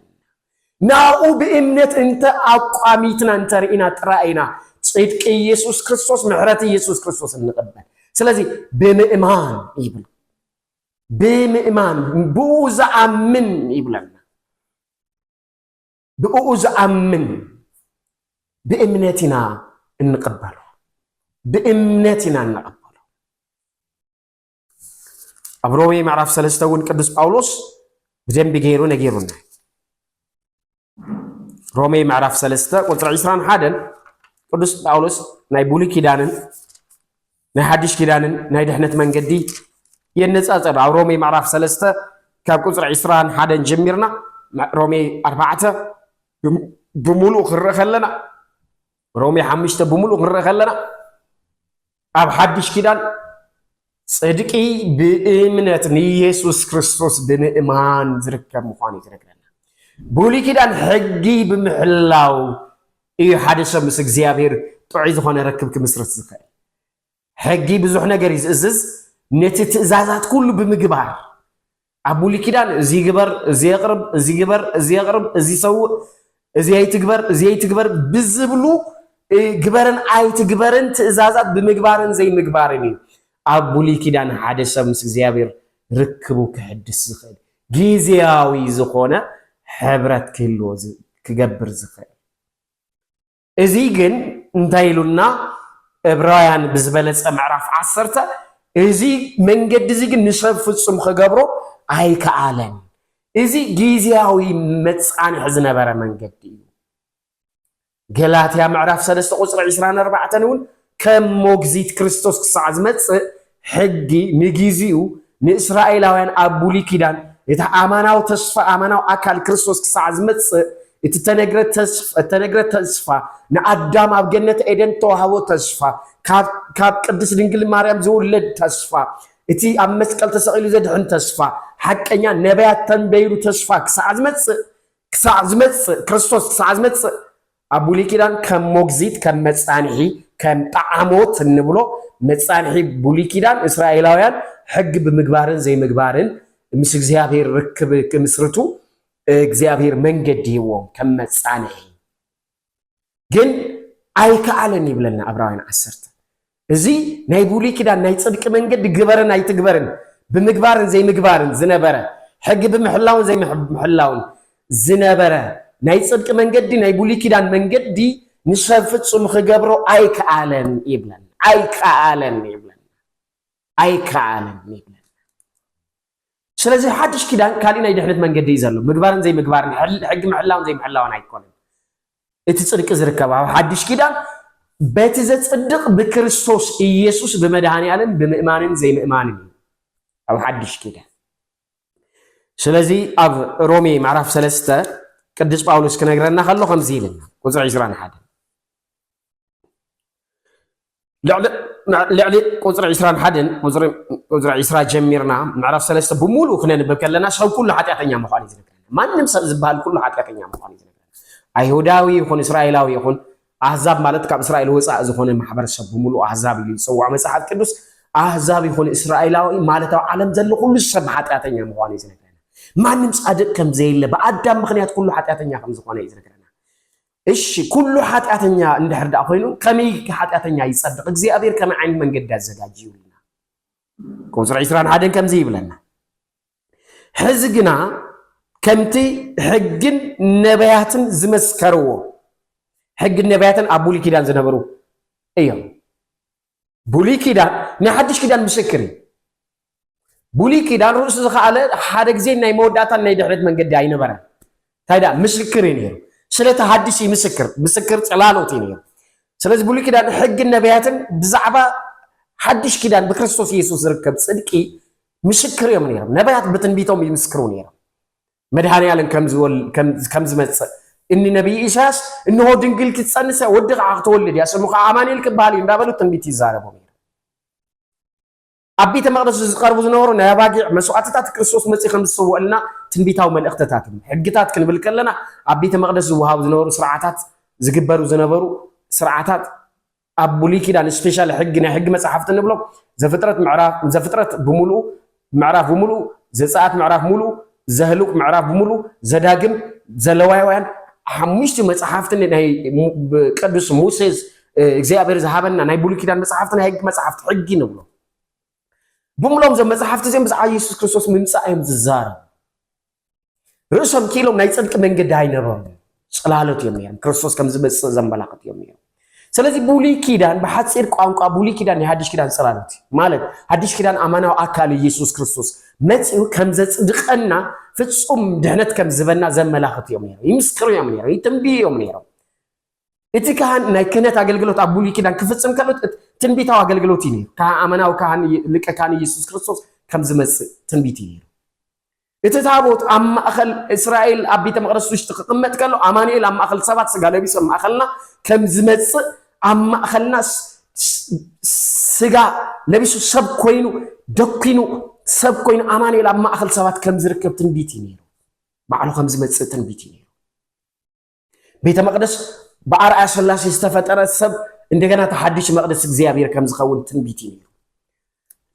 ናብኡ ብእምነት እንተ ኣቋሚትና እንተ ርኢና ጥራይ ኢና ጽድቂ ኢየሱስ ክርስቶስ፣ ምሕረት ኢየሱስ ክርስቶስ እንቕበል። ስለዚ ብምእማን ይብል ብምእማን ብኡ ዝኣምን ይብለና ብእኡ ዝኣምን ብእምነት ኢና እንቕበሎ ብእምነት ኢና እንቐበሎ ኣብ ሮሜ ምዕራፍ ሰለስተ እውን ቅዱስ ጳውሎስ ብደንቢ ገይሩ ነጊሩና ሮሜ ምዕራፍ ሰለስተ ቁፅሪ ዕስራን ሓደን ቅዱስ ጳውሎስ ናይ ብሉይ ኪዳንን ናይ ሓድሽ ኪዳንን ናይ ድሕነት መንገዲ የነጻጸር ኣብ ሮሜ ምዕራፍ ሰለስተ ካብ ቁፅሪ ዕስራን ሓደን ጀሚርና ሮሜ ኣርባዕተ ብምሉእ ክንርኢ ከለና ሮሜ ሓሙሽተ ብምሉእ ክንርኢ ከለና ኣብ ሓድሽ ኪዳን ፅድቂ ብእምነት ንኢየሱስ ክርስቶስ ብምእማን ዝርከብ ምዃኑ እዩ ዝነግረና ብሉይ ኪዳን ሕጊ ብምሕላው እዩ ሓደ ሰብ ምስ እግዚኣብሄር ጥዑይ ዝኾነ ርክብ ክምስርት ዝኽእል። ሕጊ ብዙሕ ነገር እዩ ዝእዝዝ፣ ነቲ ትእዛዛት ኩሉ ብምግባር ኣብ ብሉይ ኪዳን እዚ ግበር፣ እዚ የቕርብ፣ እዚ ግበር፣ እዚ የቕርብ፣ እዚ ሰውእ፣ እዚ ኣይትግበር፣ እዚ ኣይትግበር ብዝብሉ ግበርን ኣይትግበርን ትእዛዛት ብምግባርን ዘይምግባርን እዩ ኣብ ብሉይ ኪዳን ሓደ ሰብ ምስ እግዚኣብሄር ርክቡ ክሕድስ ዝኽእል። ጊዝያዊ ዝኾነ ሕብረት ክህልዎ ክገብር ዝኽእል። እዚ ግን እንታይ ኢሉና እብራውያን ብዝበለጸ ምዕራፍ ዓሰርተ እዚ መንገዲ እዚ ግን ንሰብ ፍጹም ክገብሮ ኣይከኣለን። እዚ ጊዝያዊ መጻንሒ ዝነበረ መንገዲ እዩ። ገላትያ ምዕራፍ ሰለስተ ቁጽሪ ዕስራን ኣርባዕተን እውን ከም ሞግዚት ክርስቶስ ክሳዕ ዝመጽእ ሕጊ ንጊዚኡ ንእስራኤላውያን ኣብ ብሉይ ኪዳን እቲ ኣማናዊ ተስፋ ኣማናዊ ኣካል ክርስቶስ ክሳዕ ዝመጽእ እቲ እተነግረ ተስፋ ንኣዳም ኣብ ገነት ኤደን ተዋህቦ ተስፋ ካብ ቅድስት ድንግል ማርያም ዝውለድ ተስፋ እቲ ኣብ መስቀል ተሰቒሉ ዘድሕን ተስፋ ሓቀኛ ነቢያት ተንበይሩ ተስፋ ክሳዕ ዝመጽእ ክሳዕ ዝመጽእ፣ ክርስቶስ ክሳዕ ዝመጽእ፣ ኣብ ብሉይ ኪዳን ከም ሞግዚት፣ ከም መጻንሒ፣ ከም ጠዓሞት እንብሎ መጻንሒ ብሉይ ኪዳን እስራኤላውያን ሕጊ ብምግባርን ዘይምግባርን ምስ እግዚኣብሔር ርክብ ክምስርቱ እግዚኣብሔር መንገዲ ሂብዎም ከም መጻንሒ። ግን ኣይከኣለን ይብለና ዕብራውያን ዓሰርተ እዚ ናይ ብሉይ ኪዳን ናይ ጽድቂ መንገዲ ግበርን ኣይትግበርን ብምግባርን ዘይምግባርን ዝነበረ ሕጊ ብምሕላውን ዘይምሕላውን ዝነበረ ናይ ጽድቂ መንገዲ ናይ ብሉይ ኪዳን መንገዲ ንሰብ ፍጹም ክገብሮ ኣይከኣለን ይብለና ኣይከኣለን ይብለና ኣይከኣለን ይብለና ስለዚ ሓድሽ ኪዳን ካሊእ ናይ ድሕነት መንገዲ እዩ ዘሎ። ምግባርን ዘይምግባርን ሕጊ ምሕላውን ዘይምሕላውን ኣይኮነን። እቲ ጽድቂ ዝርከብ ኣብ ሓድሽ ኪዳን በቲ ዘጽድቕ ብክርስቶስ ኢየሱስ ብመድኃኔዓለም ብምእማንን ዘይምእማንን እዩ ኣብ ሓድሽ ኪዳን። ስለዚ ኣብ ሮሜ ምዕራፍ ሰለስተ ቅዱስ ጳውሎስ ክነግረና ከሎ ከምዚ ይብልና ቁጽሪ ዕስራን ሓደን ልዕሊ ቁፅሪ ዒስራን ሓደን ቁፅሪ ዒስራ ጀሚርና ምዕራፍ ሰለስተ ብምሉእ ክነንብብ ከለና ሰብ ኩሉ ሓጢኣተኛ ምዃኑ እዩ ዝነግረና ማንም ሰብ ዝበሃል ኩሉ ሓጢኣተኛ ምዃኑ እዩ ዝነግረና ኣይሁዳዊ ይኹን እስራኤላዊ ይኹን ኣህዛብ ማለት ካብ እስራኤል ወፃእ ዝኾነ ማሕበረሰብ ብምሉእ ኣህዛብ እዩ ዝፅዋዕ መፅሓፍ ቅዱስ ኣህዛብ ይኹን እስራኤላዊ ማለት ኣብ ዓለም ዘሎ ኩሉ ሰብ ሓጢኣተኛ ምዃኑ እዩ ዝነግረና ማንም ፃድቅ ከም ዘየለ ብኣዳም ምክንያት ኩሉ ሓጢኣተኛ ከም ዝኾነ እዩ ዝነግረና እሺ ኩሉ ሓጢኣተኛ እንድሕር ድኣ ኮይኑ ከመይ ኢልኪ ሓጢኣተኛ ይጸድቕ እግዚኣብሔር ከመይ ዓይነት መንገዲ ኣዘጋጅዩ ኢልና ቁጽሪ ዕስራን ሓደን ከምዚ ይብለና ሕዚ ግና ከምቲ ሕግን ነቢያትን ዝመስከርዎ ሕግን ነቢያትን ኣብ ብሉይ ኪዳን ዝነበሩ እዮም ብሉይ ኪዳን ናይ ሓድሽ ኪዳን ምስክር እዩ። ብሉይ ኪዳን ርእሱ ዝኸኣለ ሓደ ግዜ ናይ መወዳእታን ናይ ድሕረት መንገዲ ኣይነበረን። እንታይ ደኣ ምስክር እዩ ነይሩ። ስለቲ ሃዲስ እዩ ምስክር ምስክር ጽላሎት እዩ ነይሩ። ስለዚ ብሉይ ኪዳን ሕግን ነቢያትን ብዛዕባ ሓድሽ ኪዳን ብክርስቶስ ኢየሱስ ዝርከብ ጽድቂ ምስክር እዮም ነይሮም። ነቢያት ብትንቢቶም ይምስክሩ ነይሮም። መድኃኔዓለም ከም ዝመጽእ እኒ ነቢይ ኢሳያስ እንሆ ድንግል ክትጸንስ እያ ወዲ ከዓ ክትወልድ እያ ስሙ ከዓ ኣማኑኤል ክበሃል እዩ እንዳበሉ ትንቢት ይዛረቡ ነይሩ። ኣብ ቤተ መቅደሱ ዝቀርቡ ዝነበሩ ናይ ኣባጊዕ መስዋዕትታት ክርስቶስ መጺኡ ከም ዝስወኣልና ትንቢታዊ መልእኽትታት እዮም። ሕግታት ክንብል ከለና ኣብ ቤተ መቅደስ ዝወሃቡ ዝነበሩ ስርዓታት ዝግበሩ ዝነበሩ ስርዓታት ኣብ ብሉይ ኪዳን ስፔሻል ሕጊ ናይ ሕጊ መጻሕፍቲ ንብሎ ዘፍጥረት ምዕራፍ ዘፍጥረት ብምሉኡ ምዕራፍ ብምሉኡ ዘጸኣት ምዕራፍ ምሉኡ ዘህሉቅ ምዕራፍ ብምሉኡ ዘዳግም ዘለዋውያን ሓሙሽቲ መጽሓፍቲ ናይ ቅዱስ ሙሴስ እግዚኣብሔር ዝሃበና ናይ ብሉይ ኪዳን መጽሓፍቲ ናይ ሕጊ መጽሓፍቲ ሕጊ ንብሎ ብምሎም ዘም መጽሓፍቲ እዚኦም ብዛዕባ ኢየሱስ ክርስቶስ ምምጻእ እዮም ዝዛረብ ርእሶም ክኢሎም ናይ ጽድቂ መንገዲ ኣይነበሮም ጽላሎት እዮም ነይሮም ክርስቶስ ከም ዝመጽእ ዘመላኽት እዮም ነይሮም ስለዚህ ብሉይ ኪዳን ብሓፂር ቋንቋ ብሉይ ኪዳን ናይ ሓድሽ ኪዳን ጽላሎት እዩ ማለት ሓድሽ ኪዳን ኣማናዊ ኣካል ኢየሱስ ክርስቶስ መፂኡ ከም ዘጽድቀና ፍጹም ድሕነት ከም ዝበና ዘመላኽት እዮም ነይሮም ይምስክሩ እዮም ነይሮም ይትንብዩ እዮም ነይሮም እቲ ካህን ናይ ክህነት ኣገልግሎት ኣብ ብሉይ ኪዳን ክፍጽም ከሎ ትንቢታዊ ኣገልግሎት እዩ ነይሩ ኣመናዊ ካህን ሊቀ ካህን ኢየሱስ ክርስቶስ ከም ዝመጽእ ትንቢት እዩ ነይሩ እቲ ታቦት ኣብ ማእከል እስራኤል ኣብ ቤተ መቕደስ ውሽጢ ክቕመጥ ከሎ ኣማኑኤል ኣብ ማእከል ሰባት ስጋ ለቢሱ ኣብ ማእከልና ከም ዝመጽእ ኣብ ማእከልና ስጋ ለቢሱ ሰብ ኮይኑ ደኪኑ ሰብ ኮይኑ ኣማኑኤል ኣብ ማእከል ሰባት ከም ዝርከብ ትንቢት እዩ ነይሩ። ባዕሉ ከም ዝመጽእ ትንቢት እዩ ነይሩ። ቤተ መቅደስ ብኣርኣያ ስላሴ ዝተፈጠረ ሰብ እንደገና እቲ ሓድሽ መቅደስ እግዚኣብሔር ከም ዝኸውን ትንቢት እዩ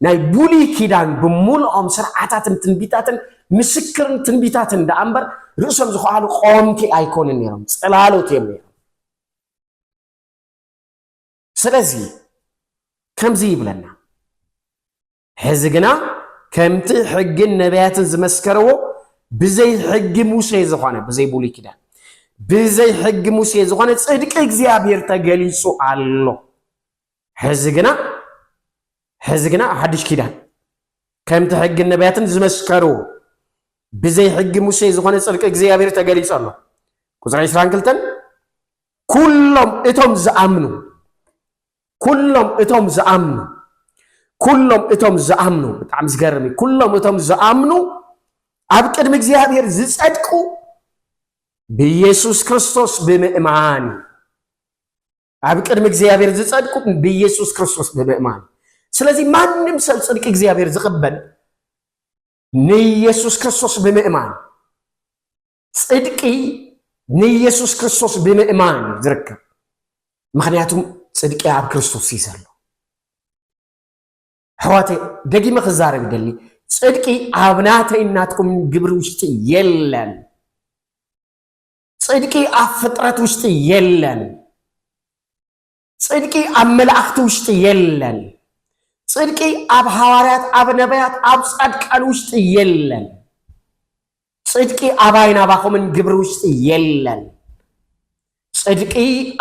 ናይ ብሉይ ኪዳን ብምልኦም ስርዓታትን ትንቢታትን ምስክርን ትንቢታትን ደኣ እምበር ርእሶም ዝኸኣሉ ቆምቲ ኣይኮኑን ነይሮም ፅላሎት እዮም ነይሮም ስለዚ ከምዚ ይብለና ሕዚ ግና ከምቲ ሕግን ነቢያትን ዝመስከርዎ ብዘይ ሕጊ ሙሴ ዝኾነ ብዘይ ብሉይ ኪዳን ብዘይ ሕጊ ሙሴ ዝኾነ ጽድቂ እግዚኣብሔር ተገሊጹ ኣሎ ሕዚ ግና ሕዚ ግና ሓድሽ ኪዳን ከምቲ ሕግን ነቢያትን ዝመስከርዎ ብዘይ ሕጊ ሙሴ ዝኾነ ጽድቂ እግዚኣብሔር ተገሊጹ ኣሎ ቁፅሪ 22 ኩሎም እቶም ዝኣምኑ ኩሎም እቶም ዝኣምኑ ኩሎም እቶም ዝኣምኑ ብጣዕሚ ዝገርም እዩ ኩሎም እቶም ዝኣምኑ ኣብ ቅድሚ እግዚኣብሔር ዝጸድቁ ብኢየሱስ ክርስቶስ ብምእማን እዩ ኣብ ቅድሚ እግዚኣብሔር ዝጸድቁ ብኢየሱስ ክርስቶስ ብምእማን ስለዚ ማንም ሰብ ጽድቂ እግዚኣብሔር ዝቕበል ንኢየሱስ ክርስቶስ ብምእማን ጽድቂ ንኢየሱስ ክርስቶስ ብምእማን እዩ ዝርከብ ምክንያቱም ጽድቂ ኣብ ክርስቶስ እዩ ዘሎ ሕዋተ ደጊመ ክዛረብ ደሊ ጽድቂ ኣብ ናተይ ናትኩም ግብሪ ውሽጢ የለን ጽድቂ ኣብ ፍጥረት ውሽጢ የለን ጽድቂ ኣብ መላእኽቲ ውሽጢ የለን። ጽድቂ ኣብ ሃዋርያት፣ ኣብ ነቢያት፣ ኣብ ጻድቃን ውሽጢ የለን። ጽድቂ ኣባይን ኣባኹምን ግብሪ ውሽጢ የለን። ጽድቂ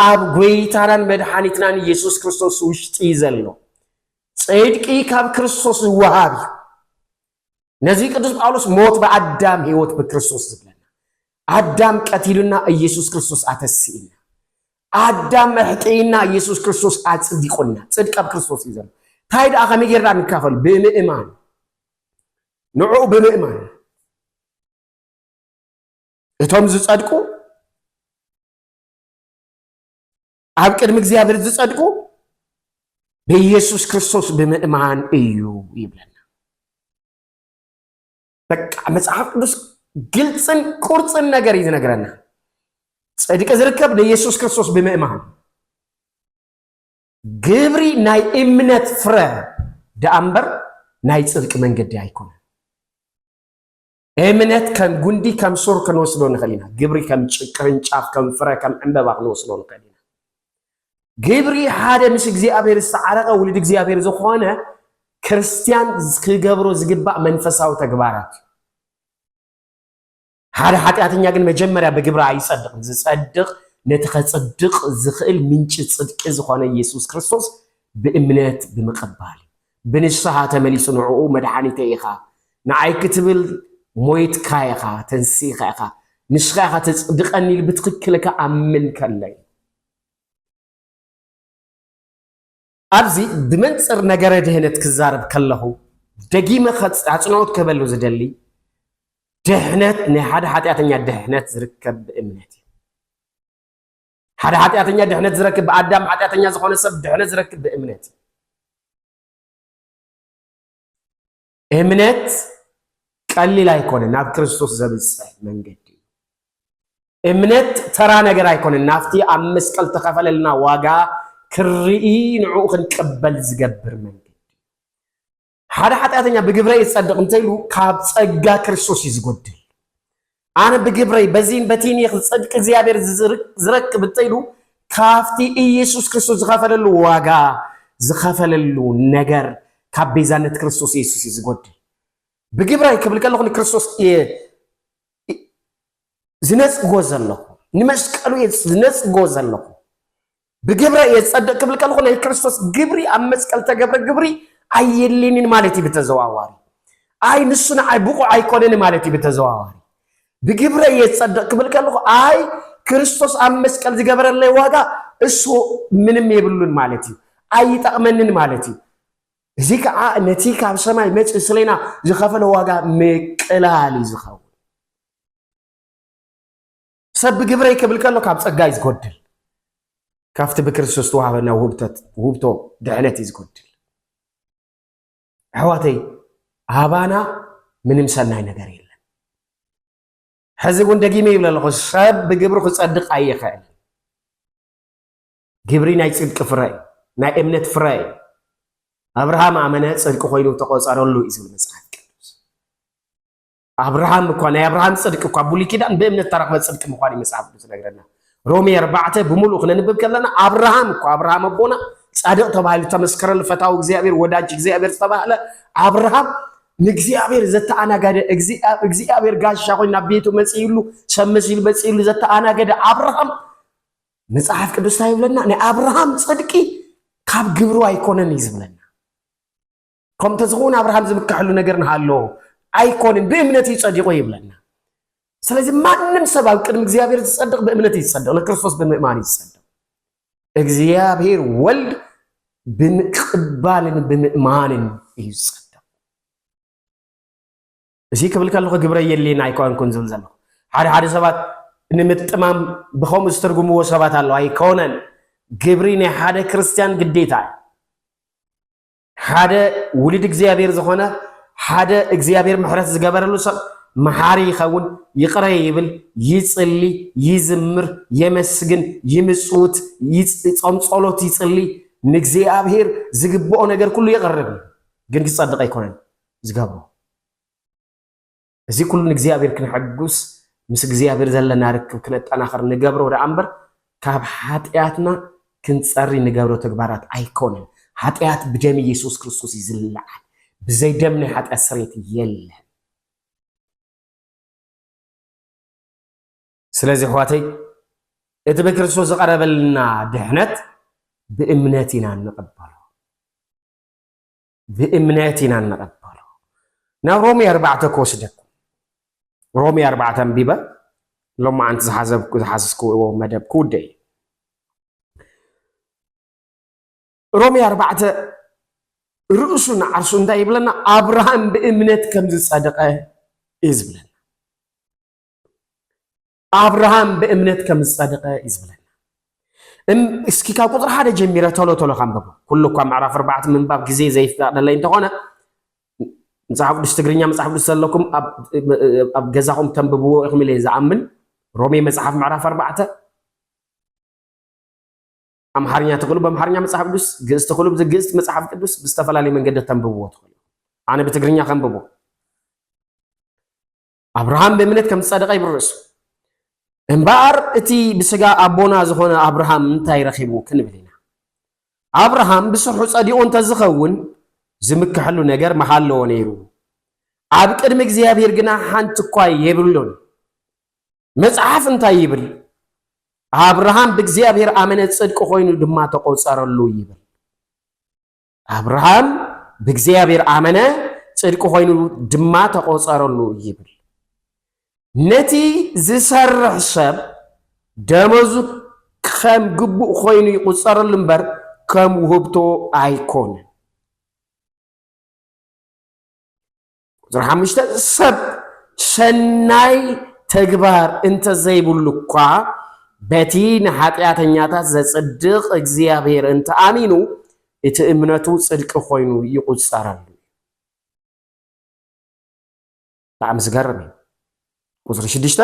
ኣብ ጐይታናን መድሓኒትናን ኢየሱስ ክርስቶስ ውሽጢ እዩ ዘሎ። ጽድቂ ካብ ክርስቶስ ዝወሃብ እዩ። ነዚ ቅዱስ ጳውሎስ ሞት ብኣዳም ህይወት ብክርስቶስ ዝብለና ኣዳም ቀቲሉና ኢየሱስ ክርስቶስ ኣተስኢልና ኣዳም መሕጥይና ኢየሱስ ክርስቶስ ኣጽዲቁልና ጽድቂ ኣብ ክርስቶስ እዩ ዘሎ እንታይ ደኣ ከመይ ጌርና ንካፈል ብምእማን ንዕኡ ብምእማን እቶም ዝጸድቁ ኣብ ቅድሚ እግዚኣብሔር ዝጸድቁ ብኢየሱስ ክርስቶስ ብምእማን እዩ ይብለና። በቃ መጽሓፍ ቅዱስ ግልፅን ቁርፅን ነገር እዩ ዝነግረና። ጽድቂ ዝርከብ ንኢየሱስ ክርስቶስ ብምእማን ግብሪ ናይ እምነት ፍረ ደኣ እምበር ናይ ጽድቂ መንገዲ ኣይኮነን። እምነት ከም ጉንዲ ከም ሱር ክንወስዶ ንኽእል ኢና። ግብሪ ከም ቅርንጫፍ ከም ፍረ ከም ዕምበባ ክንወስዶ ንኽእል ኢና። ግብሪ ሓደ ምስ እግዚኣብሔር ዝተዓረቐ ውልድ እግዚኣብሔር ዝኾነ ክርስቲያን ክገብሮ ዝግባእ መንፈሳዊ ተግባራት እዩ። ሓደ ሓጢኣተኛ ግን መጀመርያ ብግብሪ ኣይጸድቕን። ዝጸድቕ ነቲ ከጽድቕ ዝኽእል ምንጪ ጽድቂ ዝኾነ ኢየሱስ ክርስቶስ ብእምነት ብምቕባል እዩ። ብንስሃ ተመሊሱ ንዕኡ መድሓኒተይ ኢኻ ንዓይ ክትብል ሞይትካ ኢኻ ተንሲእካ ኢኻ ንስኻ ኢኻ ተጽድቀኒ ኢሉ ብትኽክል ክኣምን ከሎ እዩ። ኣብዚ ብመንጽር ነገረ ድህነት ክዛረብ ከለኹ ደጊመ ኣጽንኦት ክህበሉ ዝደሊ ድሕነት ናይ ሓደ ሓጢኣተኛ ድሕነት ዝርከብ ብእምነት እዩ። ሓደ ሓጢኣተኛ ድሕነት ዝረክብ ብኣዳም ሓጢኣተኛ ዝኾነ ሰብ ድሕነት ዝረክብ ብእምነት እምነት ቀሊል ኣይኮነን ናብ ክርስቶስ ዘብፅሕ መንገዲ እምነት ተራ ነገር ኣይኮነን ናብቲ ኣብ መስቀል ተኸፈለልና ዋጋ ክርኢ ንዕኡ ክንቀበል ዝገብር መንገዲ ሓደ ሓጢኣተኛ ብግብረይ ዝጸድቕ እንተይሉ ካብ ጸጋ ክርስቶስ እዩ ዝጎድል ኣነ ብግብረይ በዚን በቲን ይኽ ጽድቂ እግዚኣብሔር ዝረክብ እንተይሉ ካብቲ ኢየሱስ ክርስቶስ ዝኸፈለሉ ዋጋ ዝኸፈለሉ ነገር ካብ ቤዛነት ክርስቶስ ኢየሱስ እዩ ዝጎድል ብግብረይ ክብል ከለኹ ንክርስቶስ እየ ዝነጽጎ ዘለኹ ንመስቀሉ እየ ዝነጽጎ ዘለኹ ብግብረ እየ ዝጸድቅ ክብል ከለኹ ናይ ክርስቶስ ግብሪ ኣብ መስቀል ተገብረ ግብሪ ኣየድልየንን ማለት እዩ ብተዘዋዋሪ ኣይ ንሱ ንዓይ ብቑዕ ኣይኮነን ማለት እዩ ብተዘዋዋሪ ብግብረ እየ ዝጸድቅ ክብል ከለኹ ኣይ ክርስቶስ ኣብ መስቀል ዝገበረለይ ዋጋ እሱ ምንም የብሉን ማለት እዩ ኣይጠቕመንን ማለት እዩ እዚ ከዓ ነቲ ካብ ሰማይ መፅ ስለና ዝኸፈለ ዋጋ ምቅላል እዩ ዝኸውን ሰብ ብግብረይ ክብል ከሎ ካብ ጸጋይ ዝጎድል ካብቲ ብክርስቶስ ተዋህበና ውህብቶ ድሕነት እዩ ዝጎድል ኣሕዋተይ ኣባና ምንም ሰናይ ነገር የለን ሕዚ እውን ደጊመ ይብል ኣለኹ ሰብ ብግብሪ ክጸድቕ ኣይኽእልን ግብሪ ናይ ጽድቂ ፍረ እዩ ናይ እምነት ፍረ እዩ ኣብርሃም ኣመነ ጽድቂ ኮይኑ ተቆጸረሉ እዩ ዝብል መጽሓፍ ቅዱስ ኣብርሃም እኳ ናይ ኣብርሃም ጽድቂ እኳ ብሉይ ኪዳን ብእምነት እተረኽበ ጽድቂ ምዃን እዩ መጽሓፍ ቅዱስ ዝነግረና። ሮሜ ኣርባዕተ ብምሉእ ክነንብብ ከለና ኣብርሃም እኳ ኣብርሃም ኣቦና ጻድቅ ተባሂሉ ተመስከረሉ ፈታዊ እግዚኣብሔር ወዳጅ እግዚኣብሔር ዝተባህለ ኣብርሃም ንእግዚኣብሔር ዘተኣናገደ እግዚኣብሔር ጋሻ ኮይኑ ናብ ቤቱ መጽእሉ ሰብ መሲሉ መጽእሉ ዘተኣናገደ ኣብርሃም መጽሓፍ ቅዱስ እንታይ ይብለና? ናይ ኣብርሃም ጽድቂ ካብ ግብሩ ኣይኮነን እዩ ዝብለና። ከም ተዝኸውን ኣብርሃም ዝምካሐሉ ነገር ንሃሎ ኣይኮንን ብእምነት እዩ ጸዲቆ ይብለና ስለዚ ማንም ሰብ ኣብ ቅድሚ እግዚኣብሔር ዝጸድቕ ብእምነት እዩ ዝጸድቕ ንክርስቶስ ብምእማን እዩ ዝጸድቕ እግዚኣብሔር ወልድ ብምቅባልን ብምእማንን እዩ ዝጸድቕ እዚ ክብል ከለኹ ግብረ የሌና ኣይኮንኩን ዝብል ዘለኹ ሓደ ሓደ ሰባት ንምጥማም ብከምኡ ዝተርጉምዎ ሰባት ኣለዉ ኣይኮነን ግብሪ ናይ ሓደ ክርስትያን ግዴታ እዩ ሓደ ውሉድ እግዚኣብሔር ዝኾነ ሓደ እግዚኣብሔር ምሕረት ዝገበረሉ ሰብ መሓሪ ይኸውን፣ ይቕረ ይብል፣ ይጽሊ፣ ይዝምር፣ የመስግን፣ ይምጽውት፣ ጾም ጸሎት ይጽሊ፣ ንእግዚኣብሔር ዝግብኦ ነገር ኩሉ የቕርብ እዩ። ግን ክጸድቕ ኣይኮነን ዝገብሮ። እዚ ኩሉ ንእግዚኣብሔር ክነሐጉስ ምስ እግዚኣብሔር ዘለና ርክብ ክነጠናኽር ንገብሮ ደኣ እምበር ካብ ሓጢኣትና ክንጸሪ ንገብሮ ተግባራት ኣይኮነን። ሓጢኣት ብደም ኢየሱስ ክርስቶስ እዩ ዝለዓል። ብዘይ ደም ናይ ሓጢኣት ስርየት የለን። ስለዚ ኣሕዋተይ እቲ ብክርስቶስ ዝቐረበልና ድሕነት ብእምነት ኢና እንቕበሎ። ብእምነት ኢና እንቐበሎ። ናብ ሮሜ ኣርባዕተ ክወስደኩም ሮሜ ኣርባዕተ ኣንቢበ ሎማዓንቲ ዝሓዘብኩ ዝሓዝኩዎ መደብ ክውደ እዩ። ሮሜ ኣርባዕተ ርእሱ ንዓርሱ እንታይ ይብለና? ኣብርሃም ብእምነት ከም ዝጸድቐ እዩ ዝብለና። ኣብርሃም ብእምነት ከም ዝጸደቐ እዩ ዝብለና። እስኪ ካብ ቁፅሪ ሓደ ጀሚረ ቶሎ ቶሎ ካንበቦ ኩሉ እኳ ምዕራፍ ኣርባዕተ ምንባብ ግዜ ዘይፍቀደለይ እንተኾነ መፅሓፍ ቅዱስ ትግርኛ መፅሓፍ ቅዱስ ዘለኩም ኣብ ገዛኹም ተንብብዎ ኢኹም ኢለ ዝኣምን ሮሜ መፅሓፍ ምዕራፍ ኣርባዕተ ኣምሓርኛ ትኽእሉ በምሓርኛ መፅሓፍ ቅዱስ ግእዝ ትኽእሉ ብግእዝ መፅሓፍ ቅዱስ ብዝተፈላለየ መንገዲ ተንብብዎ ትኽእሉ ኣነ ብትግርኛ ከንብቦ ኣብርሃም ብእምነት ከም ዝጸደቐ ይብርሱ። እምበኣር እቲ ብስጋ ኣቦና ዝኾነ ኣብርሃም እንታይ ረኺቡ ክንብል ኢና? ኣብርሃም ብስርሑ ጸዲቑ እንተዝኸውን ዝምክሐሉ ነገር ምሃለዎ ነይሩ። ኣብ ቅድሚ እግዚኣብሔር ግና ሓንቲ እኳ የብሉን። መጽሓፍ እንታይ ይብል? ኣብርሃም ብእግዚኣብሔር ኣመነ ጽድቂ ኮይኑ ድማ ተቆጸረሉ ይብል። ኣብርሃም ብእግዚኣብሔር ኣመነ ጽድቂ ኮይኑ ድማ ተቆጸረሉ ይብል። ነቲ ዝሰርሕ ሰብ ደመዙ ከም ግቡእ ኮይኑ ይቁጸረሉ እምበር ከም ውህብቶ ኣይኮነን። ቁፅሪ ሓሙሽተ ሰብ ሰናይ ተግባር እንተዘይብሉ እኳ በቲ ንኃጢኣተኛታት ዘጽድቕ እግዚኣብሔር እንተኣሚኑ እቲ እምነቱ ጽድቂ ኮይኑ ይቝጸረሉ። ብጣዕሚ ዝገርም እዩ። ቁፅሪ ሽዱሽተ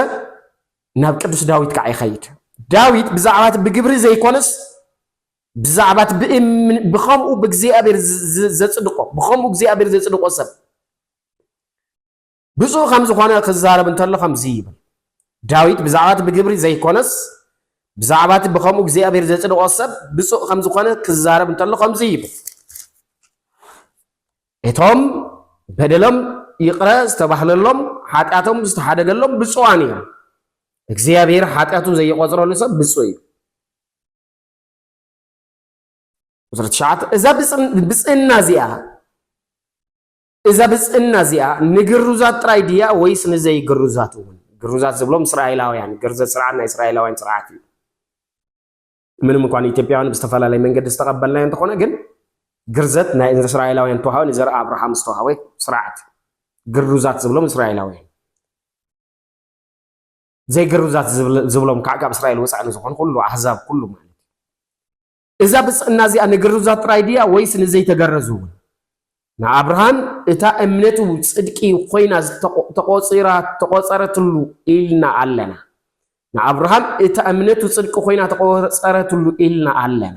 ናብ ቅዱስ ዳዊት ከዓ ይኸይድ። ዳዊት ብዛዕባ እቲ ብግብሪ ዘይኮነስ ብዛዕባቲ ብእምኒ ብኸምኡ ብእግዚኣብሔር ዘጽድቆ ብኸምኡ እግዚኣብሔር ዘጽድቆ ሰብ ብፁዕ ከም ዝኾነ ክዛረብ እንተሎ ከምዚ ይብል ዳዊት ብዛዕባቲ ብግብሪ ዘይኮነስ ብዛዕባቲ ብኸምኡ እግዚኣብሔር ዘጽድቆ ሰብ ብፁዕ ከም ዝኾነ ክዛረብ እንተሎ ከምዚ ይብል እቶም በደሎም ይቕረ ዝተባህለሎም ሓጢኣቶም ዝተሓደገሎም ብፁዓን እዮም እግዚኣብሔር ሓጢኣቱ ዘይቆጽረሉ ሰብ ብፁዕ እዩ ቁፅሪ ትሽዓተ እዛ ብፅዕና እዚኣ እዛ ብፅዕና እዚኣ ንግሩዛት ጥራይ ድያ ወይስ ንዘይግሩዛት እውን? ግሩዛት ዝብሎም እስራኤላውያን ግርዘት ስርዓት ናይ እስራኤላውያን ስርዓት እዩ። ምንም እንኳን ኢትዮጵያውያን ብዝተፈላለየ መንገዲ ዝተቐበልናዮ እንተኾነ ግን ግርዘት ናይ እስራኤላውያን ተዋህበ ንዘርኢ ኣብርሃም ዝተዋህበ ስርዓት ግሩዛት ዝብሎም እስራኤላውያን ዘይግርዛት ዝብሎም ከዓ ካብ እስራኤል ወፃኢ ንዝኾኑ ኩሉ ኣህዛብ ኩሉ ማለት እዩ። እዛ ብፅዕና እዚኣ ንግርዛት ጥራይ ድያ ወይስ ንዘይተገረዙ እውን? ንኣብርሃም እታ እምነቱ ፅድቂ ኮይና ተቆፂራ ተቆፀረትሉ ኢልና ኣለና። ንኣብርሃም እታ እምነቱ ፅድቂ ኮይና ተቆፀረትሉ ኢልና ኣለና።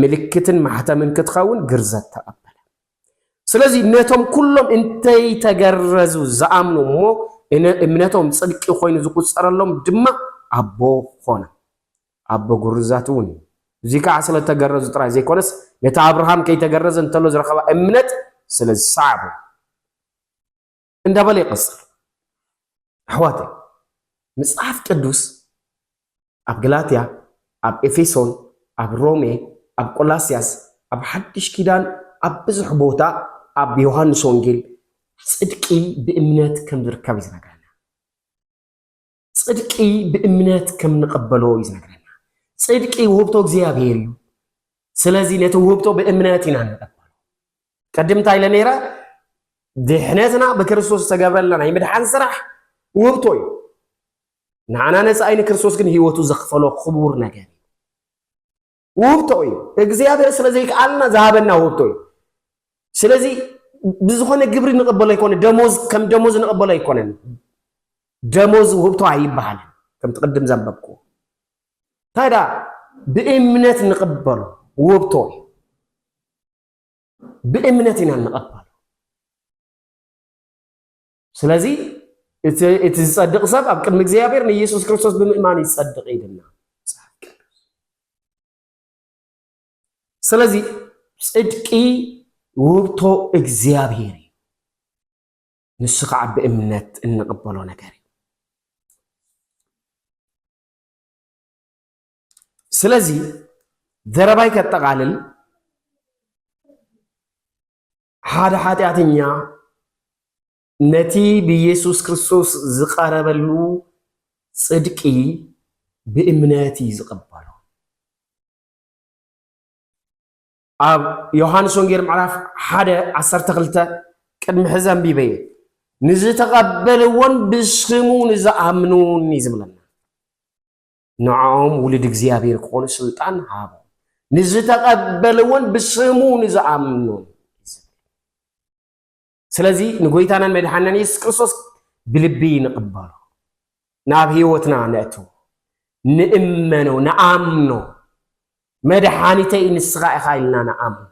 ምልክትን ማሕተምን ክትኸውን ግርዘት ተቐበለ። ስለዚ ነቶም ኩሎም እንተይተገረዙ ዝኣምኑ እሞ እምነቶም ጽድቂ ኮይኑ ዝቁጸረሎም ድማ ኣቦ ኾነ። ኣቦ ግሩዛት እውን እዩ። እዙይ ከዓ ስለ ተገረዙ ጥራይ ዘይኮነስ ነቲ ኣብርሃም ከይተገረዘ እንተሎ ዝረኸባ እምነት ስለ ዝሰዓቡ እዩ። እንዳበለ ይቕጽል። ኣሕዋተይ መጽሓፍ ቅዱስ ኣብ ገላትያ፣ ኣብ ኤፌሶን፣ ኣብ ሮሜ፣ ኣብ ቆላስያስ፣ ኣብ ሓድሽ ኪዳን ኣብ ብዙሕ ቦታ ኣብ ዮሃንስ ወንጌል ጽድቂ ብእምነት ከም ዝርከብ እዩ ዝነግረና። ጽድቂ ብእምነት ከም ንቐበሎ እዩ ዝነግረና። ጽድቂ ውህብቶ እግዚኣብሔር እዩ። ስለዚ ነቲ ውህብቶ ብእምነት ኢና ንቐበሎ። ቅድም እንታይ ኢለ ነይረ? ድሕነትና ብክርስቶስ ዝተገብረልና ናይ ምድሓን ስራሕ ውህብቶ እዩ። ንዓና ነፃ ንክርስቶስ ግን ህይወቱ ዘኽፈሎ ክቡር ነገር እዩ። ውህብቶ እዩ እግዚኣብሔር ስለዘይከኣልና ዝሃበና ውህብቶ እዩ ስለዚ ብዝኾነ ግብሪ ንቕበሎ ኣይኮነ ደሞዝ ከም ደሞዝ ንቕበሎ ኣይኮነን ደሞዝ ውህብቶ ኣይበሃልን ከምቲ ቅድም ዘንበብኩ እንታይ ዳ ብእምነት ንቕበሎ ውህብቶ እዩ ብእምነት ኢና ንቐበሎ ስለዚ እቲ ዝጸድቕ ሰብ ኣብ ቅድሚ እግዚኣብሔር ንኢየሱስ ክርስቶስ ብምእማን ይጸድቕ ኢልና ስለዚ ጽድቂ ውህብቶ እግዚኣብሔር እዩ ንሱ ከዓ ብእምነት እንቕበሎ ነገር እዩ ስለዚ ዘረባይ ከጠቓልል ሓደ ሓጢኣተኛ ነቲ ብኢየሱስ ክርስቶስ ዝቐረበሉ ጽድቂ ብእምነት እዩ ዝቐበሎ። ኣብ ዮሃንስ ወንጌል ምዕራፍ ሓደ ዓሰርተ ክልተ ቅድሚ ሕዚ ኣንቢበ እየ ንዝተቐበልዎን ብስሙ ንዝኣምኑን እዩ ዝብለና። ንዕኦም ውሉድ እግዚኣብሔር ክኾኑ ስልጣን ሃቦ ንዝተቐበልዎን ብስሙ ንዝኣምኑን ስለዚ ንጎይታናን መድሓናን የሱስ ክርስቶስ ብልቢ ንቕበሎ ናብ ህይወትና ነእትዎ ንእመኖ ንኣምኖ መድሓኒተይ ንስኻ ኢኻ ኢልና ንኣምኖ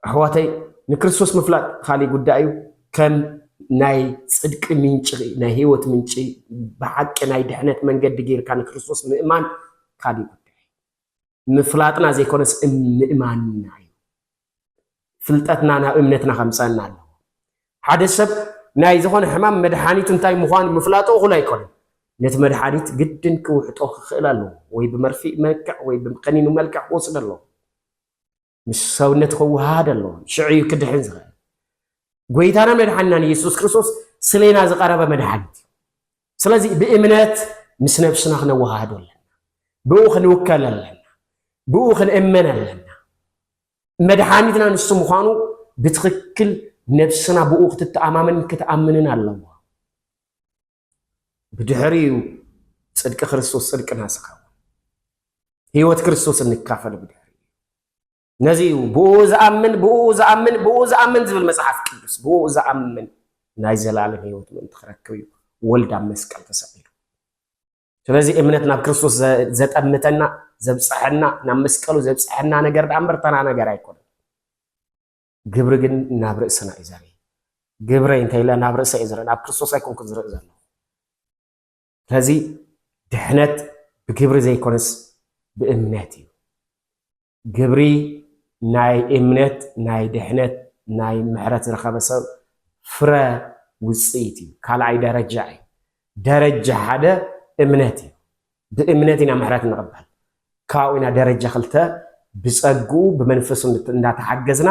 ኣሕዋተይ ንክርስቶስ ምፍላጥ ኻሊእ ጉዳይ እዩ ከም ናይ ጽድቂ ምንጪ ናይ ህይወት ምንጪ ብሓቂ ናይ ድሕነት መንገዲ ጌርካ ንክርስቶስ ምእማን ኻሊእ ጉዳይ ምፍላጥና ዘይኮነስ ምእማንና እዩ ፍልጠትና ናብ እምነትና ከምጸና ኣለዎ ሓደ ሰብ ናይ ዝኾነ ሕማም መድሓኒቱ እንታይ ምዃኑ ምፍላጡ እኹል ኣይኮነን ነቲ መድሓኒት ግድን ክውሕጦ ክኽእል ኣለዎ ወይ ብመርፊእ መልክዕ ወይ ብከኒኑ መልክዕ ክወስደ ኣለዎ ምስ ሰውነት ክወሃሃድ ኣለዎ ሽዑ እዩ ክድሕን ዝኽእል ጎይታና መድሓንናን ኢየሱስ ክርስቶስ ስሌና ዝቐረበ መድሓኒት እዩ ስለዚ ብእምነት ምስ ነብስና ክነወሃሃዶ ኣለና ብኡ ክንውከል ኣለና ብኡ ክንእመን ኣለና መድሓኒትና ንሱ ምዃኑ ብትኽክል ነብስና ብኡ ክትተኣማመን ክትኣምንን ኣለዎ ብድሕሪ እዩ ጽድቂ ክርስቶስ ጽድቅና ዝኸውን ህይወት ክርስቶስ እንካፈል ብድሕሪ እዩ ነዚ እዩ ብኡ ዝኣምን ብኡ ዝኣምን ብኡ ዝኣምን ዝብል መጽሓፍ ቅዱስ ብኡ ዝኣምን ናይ ዘላለም ህይወት ምእንቲ ክረክብ እዩ ወልድ ኣብ መስቀል ተሰቂሉ ስለዚ እምነት ናብ ክርስቶስ ዘጠምተና ዘብፅሐና ናብ መስቀሉ ዘብፅሐና ነገር ዳኣ እምበር ተራ ነገር ኣይኮነ ግብሪ ግን ናብ ርእስና እዩ ዘርኢ ግብረይ እንታይ ኢለ ናብ ርእሰ እዩ ዝርኢ ናብ ክርስቶስ ኣይኮንኩን ዝርኢ ዘሎ ከዚ ድሕነት ብግብሪ ዘይኮነስ ብእምነት እዩ ግብሪ ናይ እምነት ናይ ድሕነት ናይ ምሕረት ዝረኸበ ሰብ ፍረ ውፅኢት እዩ ካልኣይ ደረጃ እዩ ደረጃ ሓደ እምነት እዩ ብእምነት ኢና ምሕረት እንቕበል። ካብኡ ኢና ደረጃ ክልተ ብጸግኡ ብመንፈሱ እንዳተሓገዝና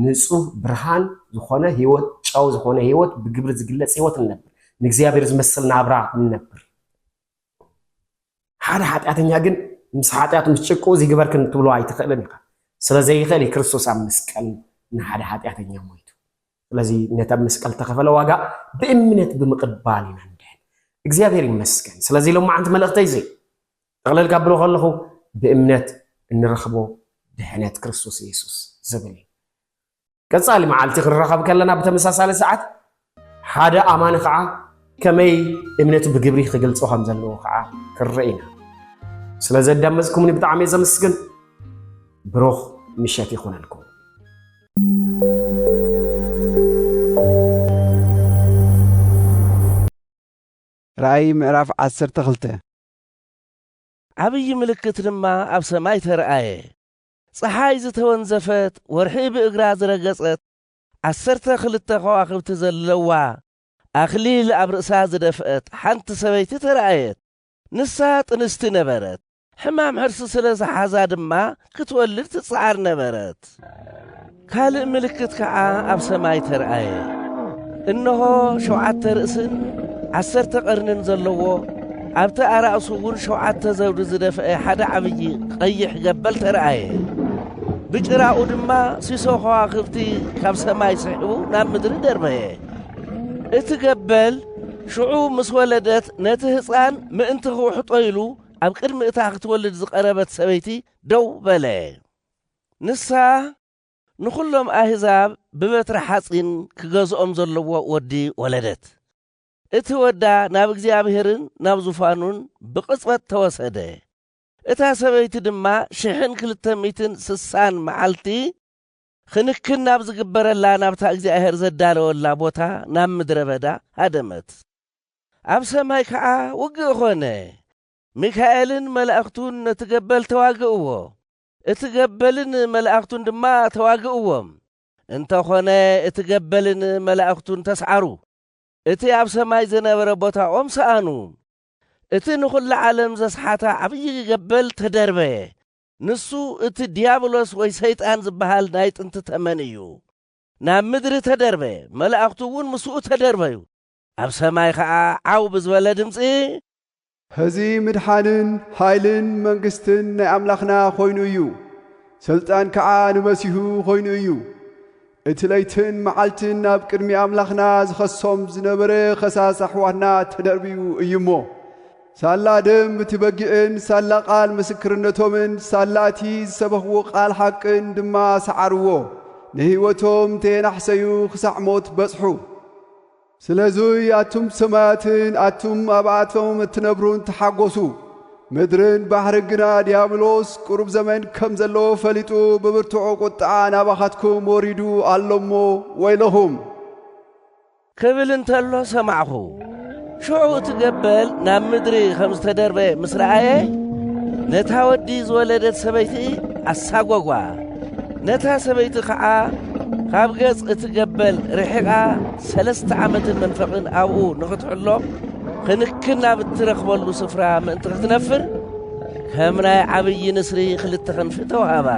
ንጹህ ብርሃን ዝኾነ ህይወት ጨው ዝኾነ ህይወት ብግብሪ ዝግለጽ ህይወት ንነብር ንእግዚኣብሔር ዝመስል ናብራ ንነብር። ሓደ ሓጢኣተኛ ግን ምስ ሓጢኣቱ ምስ ጭቅኡ ዝግበርክን ክትብሎ ኣይትኽእልን ኢኻ። ስለ ዘይኽእል ክርስቶስ ኣብ መስቀል ንሓደ ሓጢኣተኛ ሞይቱ ስለዚ ነቲ ኣብ መስቀል ተኸፈለ ዋጋ ብእምነት ብምቕባል ኢና ንድሕን። እግዚኣብሔር ይመስገን። ስለዚ ሎማዓንቲ መልእኽተይ እዚ ጠቕለል ካብሎ ከለኹ ብእምነት እንረኽቦ ድሕነት ክርስቶስ ኢየሱስ ዝብል እዩ። ቀጻሊ መዓልቲ ክንራኸብ ከለና ብተመሳሳሊ ሰዓት ሓደ ኣማኒ ከዓ ከመይ እምነቱ ብግብሪ ክገልጾ ከም ዘለዎ ከዓ ክንርኢ ኢና ስለ ዘዳመፅኩምኒ ብጣዕሚ ዘምስግን ብሩኽ ምሸት ይኹነልኩም ራእይ ምዕራፍ ዓሰርተ ክልተ ዓብዪ ምልክት ድማ ኣብ ሰማይ ተረኣየ። ፀሓይ ዝተወንዘፈት ወርሒ ብእግራ ዝረገፀት ዓሰርተ ክልተ ከዋኽብቲ ዘለዋ ኣኽሊል ኣብ ርእሳ ዝደፍአት ሓንቲ ሰበይቲ ተረኣየት። ንሳ ጥንስቲ ነበረት፣ ሕማም ሕርሲ ስለ ዝሓዛ ድማ ክትወልድ ትጽዓር ነበረት። ካልእ ምልክት ከኣ ኣብ ሰማይ ተርኣየ። እንሆ ሸውዓተ ርእስን ዓሰርተ ቐርንን ዘለዎ ኣብቲ ኣራእሱ እውን ሸውዓተ ዘውዲ ዝደፍአ ሓደ ዓብዪ ቐይሕ ገበል ተርኣየ። ብጭራኡ ድማ ሲሶ ከዋኽብቲ ካብ ሰማይ ስሒቡ ናብ ምድሪ ደርበየ። እቲ ገበል ሽዑ ምስ ወለደት ነቲ ህፃን ምእንቲ ክውሕጦ ኢሉ ኣብ ቅድሚ እታ ክትወልድ ዝቐረበት ሰበይቲ ደው በለ። ንሳ ንዅሎም ኣህዛብ ብበትረ ሓጺን ክገዝኦም ዘለዎ ወዲ ወለደት። እቲ ወዳ ናብ እግዚኣብሄርን ናብ ዙፋኑን ብቕጽበት ተወሰደ። እታ ሰበይቲ ድማ ሽሕን ክልተ ሚእትን ስሳን መዓልቲ ኽንክን ናብ ዚግበረላ ናብታ እግዚኣብሄር ዘዳለወላ ቦታ ናብ ምድረ በዳ ሃደመት። ኣብ ሰማይ ከኣ ውግእ ዀነ። ሚካኤልን መላእኽቱን ነቲ ገበል ተዋግእዎ፣ እቲ ገበልን መላእኽቱን ድማ ተዋግእዎም፣ እንተ ዀነ እቲ ገበልን መላእኽቱን ተስዓሩ፣ እቲ ኣብ ሰማይ ዝነበረ ቦታኦም ሰኣኑ። እቲ ንዅላ ዓለም ዘስሓታ ዓብዪ ገበል ተደርበየ፣ ንሱ እቲ ድያብሎስ ወይ ሰይጣን ዝበሃል ናይ ጥንቲ ተመን እዩ። ናብ ምድሪ ተደርበ፣ መላእኽቱ እውን ምስኡ ተደርበዩ። ኣብ ሰማይ ኸዓ ዓው ብዝበለ ድምፂ። ሕዚ ምድሓንን ሓይልን መንግስትን ናይ ኣምላኽና ኾይኑ እዩ፣ ሥልጣን ከዓ ንመሲሁ ኾይኑ እዩ። እቲ ለይትን መዓልትን ናብ ቅድሚ ኣምላኽና ዝኸሶም ዝነበረ ኸሳስ ኣሕዋትና ተደርብዩ እዩ እሞ፣ ሳላ ደም እቲ በጊዕን ሳላ ቓል ምስክርነቶምን ሳላ እቲ ዝሰበኽዎ ቓል ሓቅን ድማ ሰዓርዎ፣ ንህይወቶም እንተየናሕሰዩ ኽሳዕ ሞት በጽሑ። ስለዙይ ኣቱም ሰማያትን ኣቱም ኣብኣቶም እትነብሩን ተሓጐሱ። ምድርን ባሕርን ግና ዲያብሎስ ቁሩብ ዘመን ከም ዘለዎ ፈሊጡ ብብርቱዕ ቍጥዓ ናባኻትኩም ወሪዱ ኣሎ እሞ ወይለኹም። ክብል እንተሎ ሰማዕኹ። ሽዑ እቲ ገበል ናብ ምድሪ ኸም ዝተደርበየ ምስ ረኣየ፣ ነታ ወዲ ዝወለደት ሰበይቲ ኣሳጐጓ። ነታ ሰበይቲ ኸዓ ካብ ገጽ እቲ ገበል ርሒቓ ሰለስተ ዓመትን መንፈቕን ኣብኡ ንኽትሕሎ ኽንክን ናብ እትረኽበሉ ስፍራ ምእንቲ ኽትነፍር ከም ናይ ዓብዪ ንስሪ ኽልተ ኽንፊ ተዋህባ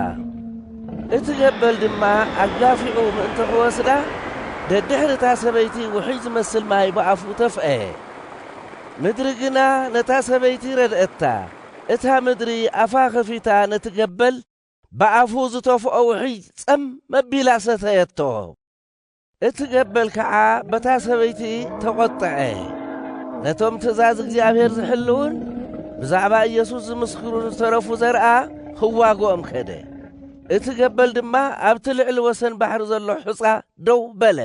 እቲ ገበል ድማ ኣጋፊዑ ምእንቲ ኽወስዳ ደድሕሪ እታ ሰበይቲ ውሕጅ ዝመስል ማይ ብኣፉ ተፍአ ምድሪ ግና ነታ ሰበይቲ ረድአታ እታ ምድሪ ኣፋ ኸፊታ ነቲ ገበል ብኣፉ ዝተፍኦ ውሕጅ ጸም መቢላ ሰተየቶ። እቲ ገበል ከኣ በታ ሰበይቲ ተቖጠዐ። ነቶም ትእዛዝ እግዚኣብሔር ዝሕልውን ብዛዕባ ኢየሱስ ዝምስክሩን ዝተረፉ ዘርኣ ኽዋግኦም ከደ። እቲ ገበል ድማ ኣብቲ ልዕሊ ወሰን ባሕሪ ዘሎ ሑጻ ደው በለ።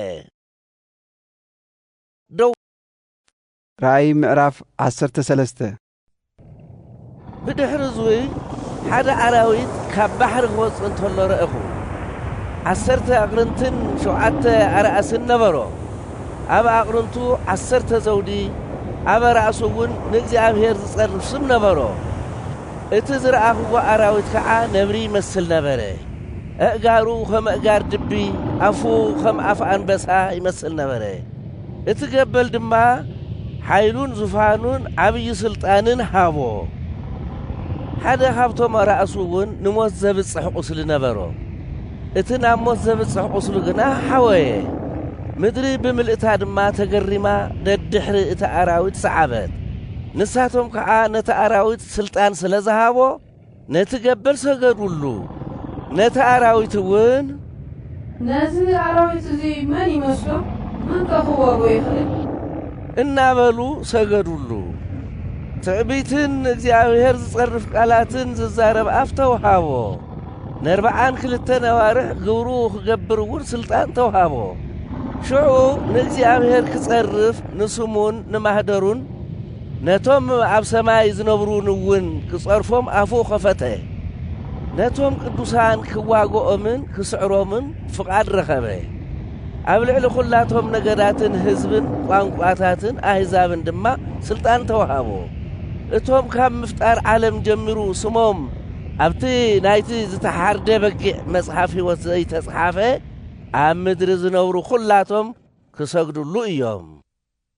ደው ራእይ ምዕራፍ ዓሰርተ ሰለስተ ብድሕሪ እዙይ ሓደ ኣራዊት ካብ ባሕሪ ክወፅእ እንተሎ ረእኹ። ዓሰርተ ኣቕርንትን ሸውዓተ ኣርኣስን ነበሮ። ኣብ ኣቕርንቱ ዓሰርተ ዘውዲ፣ ኣብ ኣራእሱ እውን ንእግዚኣብሔር ዝፀርፍ ስም ነበሮ። እቲ ዝረኣኽዎ ኣራዊት ከዓ ነብሪ ይመስል ነበረ። ኣእጋሩ ከም ኣእጋር ድቢ፣ ኣፉ ከም ኣፍ ኣንበሳ ይመስል ነበረ። እቲ ገበል ድማ ሓይሉን ዙፋኑን ዓብዪ ስልጣንን ሃቦ። ሓደ ካብቶም ኣራእሱ እውን ንሞት ዘብጽሕ ቁስሊ ነበሮ። እቲ ናብ ሞት ዘብጽሕ ቁስሉ ግና ሓወየ። ምድሪ ብምልእታ ድማ ተገሪማ ደድሕሪ እቲ ኣራዊት ሰዓበት። ንሳቶም ከዓ ነቲ ኣራዊት ስልጣን ስለ ዝሃቦ፣ ነቲ ገበል ሰገዱሉ፣ ነቲ ኣራዊት እውን። ነዚ ኣራዊት እዚ መን ይመስሎ? መንከ ኽወግኦ ይኽእል? እናበሉ ሰገዱሉ። ትዕቢትን ንእግዚኣብሄር ዝጸርፍ ቃላትን ዝዛረብ ኣፍ ተውሃቦ። ነርብዓን ክልተን ኣዋርሕ ግብሩ ኽገብር እውን ስልጣን ተውሃቦ። ሽዑ ንእግዚኣብሄር ክጸርፍ ንስሙን ንማኅደሩን። ነቶም ኣብ ሰማይ ዝነብሩን እውን ክጸርፎም ኣፉ ኸፈተ፣ ነቶም ቅዱሳን ክዋግኦምን ክስዕሮምን ፍቓድ ረኸበ፣ ኣብ ልዕሊ ዅላቶም ነገዳትን ህዝብን ቋንቋታትን ኣህዛብን ድማ ስልጣን ተዋህቦ። እቶም ካብ ምፍጣር ዓለም ጀሚሩ ስሞም ኣብቲ ናይቲ ዝተሓርደ በጊዕ መጽሓፍ ህይወት ዘይተጽሓፈ፣ ኣብ ምድሪ ዝነብሩ ዅላቶም ክሰግዱሉ እዮም።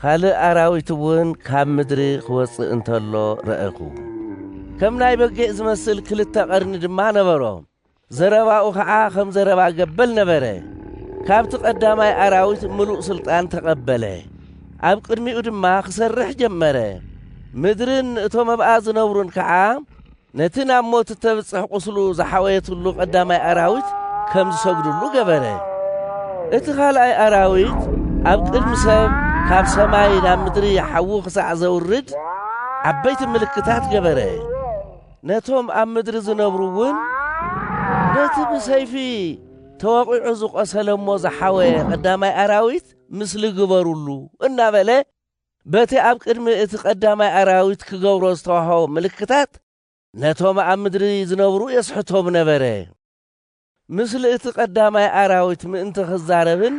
ኻልእ ኣራዊት እውን ካብ ምድሪ ኽወጽእ እንተሎ ረኣኹ። ከም ናይ በጊዕ ዝመስል ክልተ ቐርኒ ድማ ነበሮ፣ ዘረባኡ ኸዓ ኸም ዘረባ ገበል ነበረ። ካብቲ ቐዳማይ ኣራዊት ምሉእ ስልጣን ተቐበለ፣ ኣብ ቅድሚኡ ድማ ኽሰርሕ ጀመረ፣ ምድርን እቶም ኣብኣ ዝነብሩን ከዓ ነቲ ናብ ሞት እተብጽሕ ቝስሉ ዝሓወየትሉ ቐዳማይ ኣራዊት ከም ዝሰግድሉ ገበረ። እቲ ኻልኣይ ኣራዊት ኣብ ቅድሚ ሰብ ካብ ሰማይ ናብ ምድሪ ሓዊ ኽሳዕ ዘውርድ ዓበይቲ ምልክታት ገበረ። ነቶም ኣብ ምድሪ ዝነብሩ እውን ነቲ ብሰይፊ ተወቒዑ ዝቖሰለ እሞ ዝሓወየ ቐዳማይ ኣራዊት ምስሊ ግበሩሉ እናበለ በቲ ኣብ ቅድሚ እቲ ቀዳማይ ኣራዊት ክገብሮ ዝተዋህቦ ምልክታት ነቶም ኣብ ምድሪ ዝነብሩ የስሕቶም ነበረ። ምስሊ እቲ ቀዳማይ ኣራዊት ምእንቲ ክዛረብን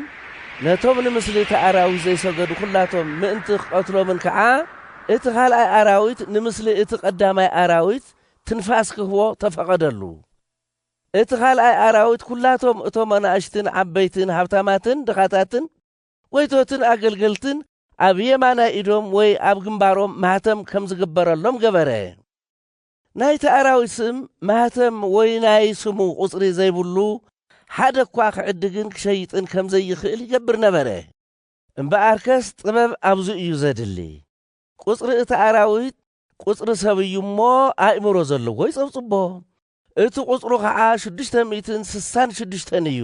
ነቶም ንምስሊ እቲ ኣራዊት ዘይሰገዱ ኩላቶም ምእንቲ ክቐትሎምን ከኣ እቲ ካልኣይ ኣራዊት ንምስሊ እቲ ቀዳማይ ኣራዊት ትንፋስ ክህቦ ተፈቐደሉ። እቲ ካልኣይ ኣራዊት ኩላቶም እቶም ኣናእሽትን ዓበይትን ሃብታማትን ድኻታትን ጐይቶትን ኣገልገልትን ኣብ የማናይ ኢዶም ወይ ኣብ ግንባሮም ማኅተም ከም ዝግበረሎም ገበረ። ናይቲ ኣራዊት ስም፣ ማኅተም ወይ ናይ ስሙ ቍጽሪ ዘይብሉ ሓደ እኳ ኺዕድግን ኪሸይጥን ከም ዘይኽእል ይገብር ነበረ። እምበኣርከስ ጥበብ ኣብዚ እዩ ዘድሊ። ቍጽሪ እቲ ኣራዊት ቍጽሪ ሰብ እዩ እሞ፣ ኣእምሮ ዘለዎ ይጸብጽቦ። እቲ ቍጽሩ ኸዓ ሽዱሽተ ሚእትን ስሳን ሽዱሽተን እዩ።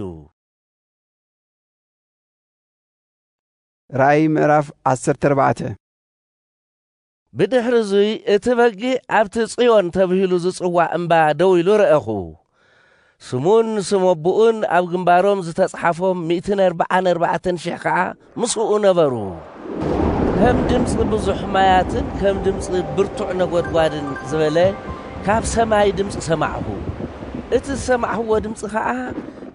ራእይ ምዕራፍ 14 ብድሕሪ እዙይ እቲ በጊዕ ኣብቲ ጽዮን ተብሂሉ ዝጽዋዕ እምባ ደው ኢሉ ረአኹ። ስሙን ስም ኣቦኡን ኣብ ግንባሮም ዝተጽሓፎም ሚእትን ኣርብዓን ኣርባዕተን ሽሕ ከዓ ምስኡ ነበሩ። ከም ድምፂ ብዙሕ ማያትን ከም ድምፂ ብርቱዕ ነጎድጓድን ዝበለ ካብ ሰማይ ድምፂ ሰማዕኹ። እቲ ዝሰማዕኽዎ ድምፂ ከዓ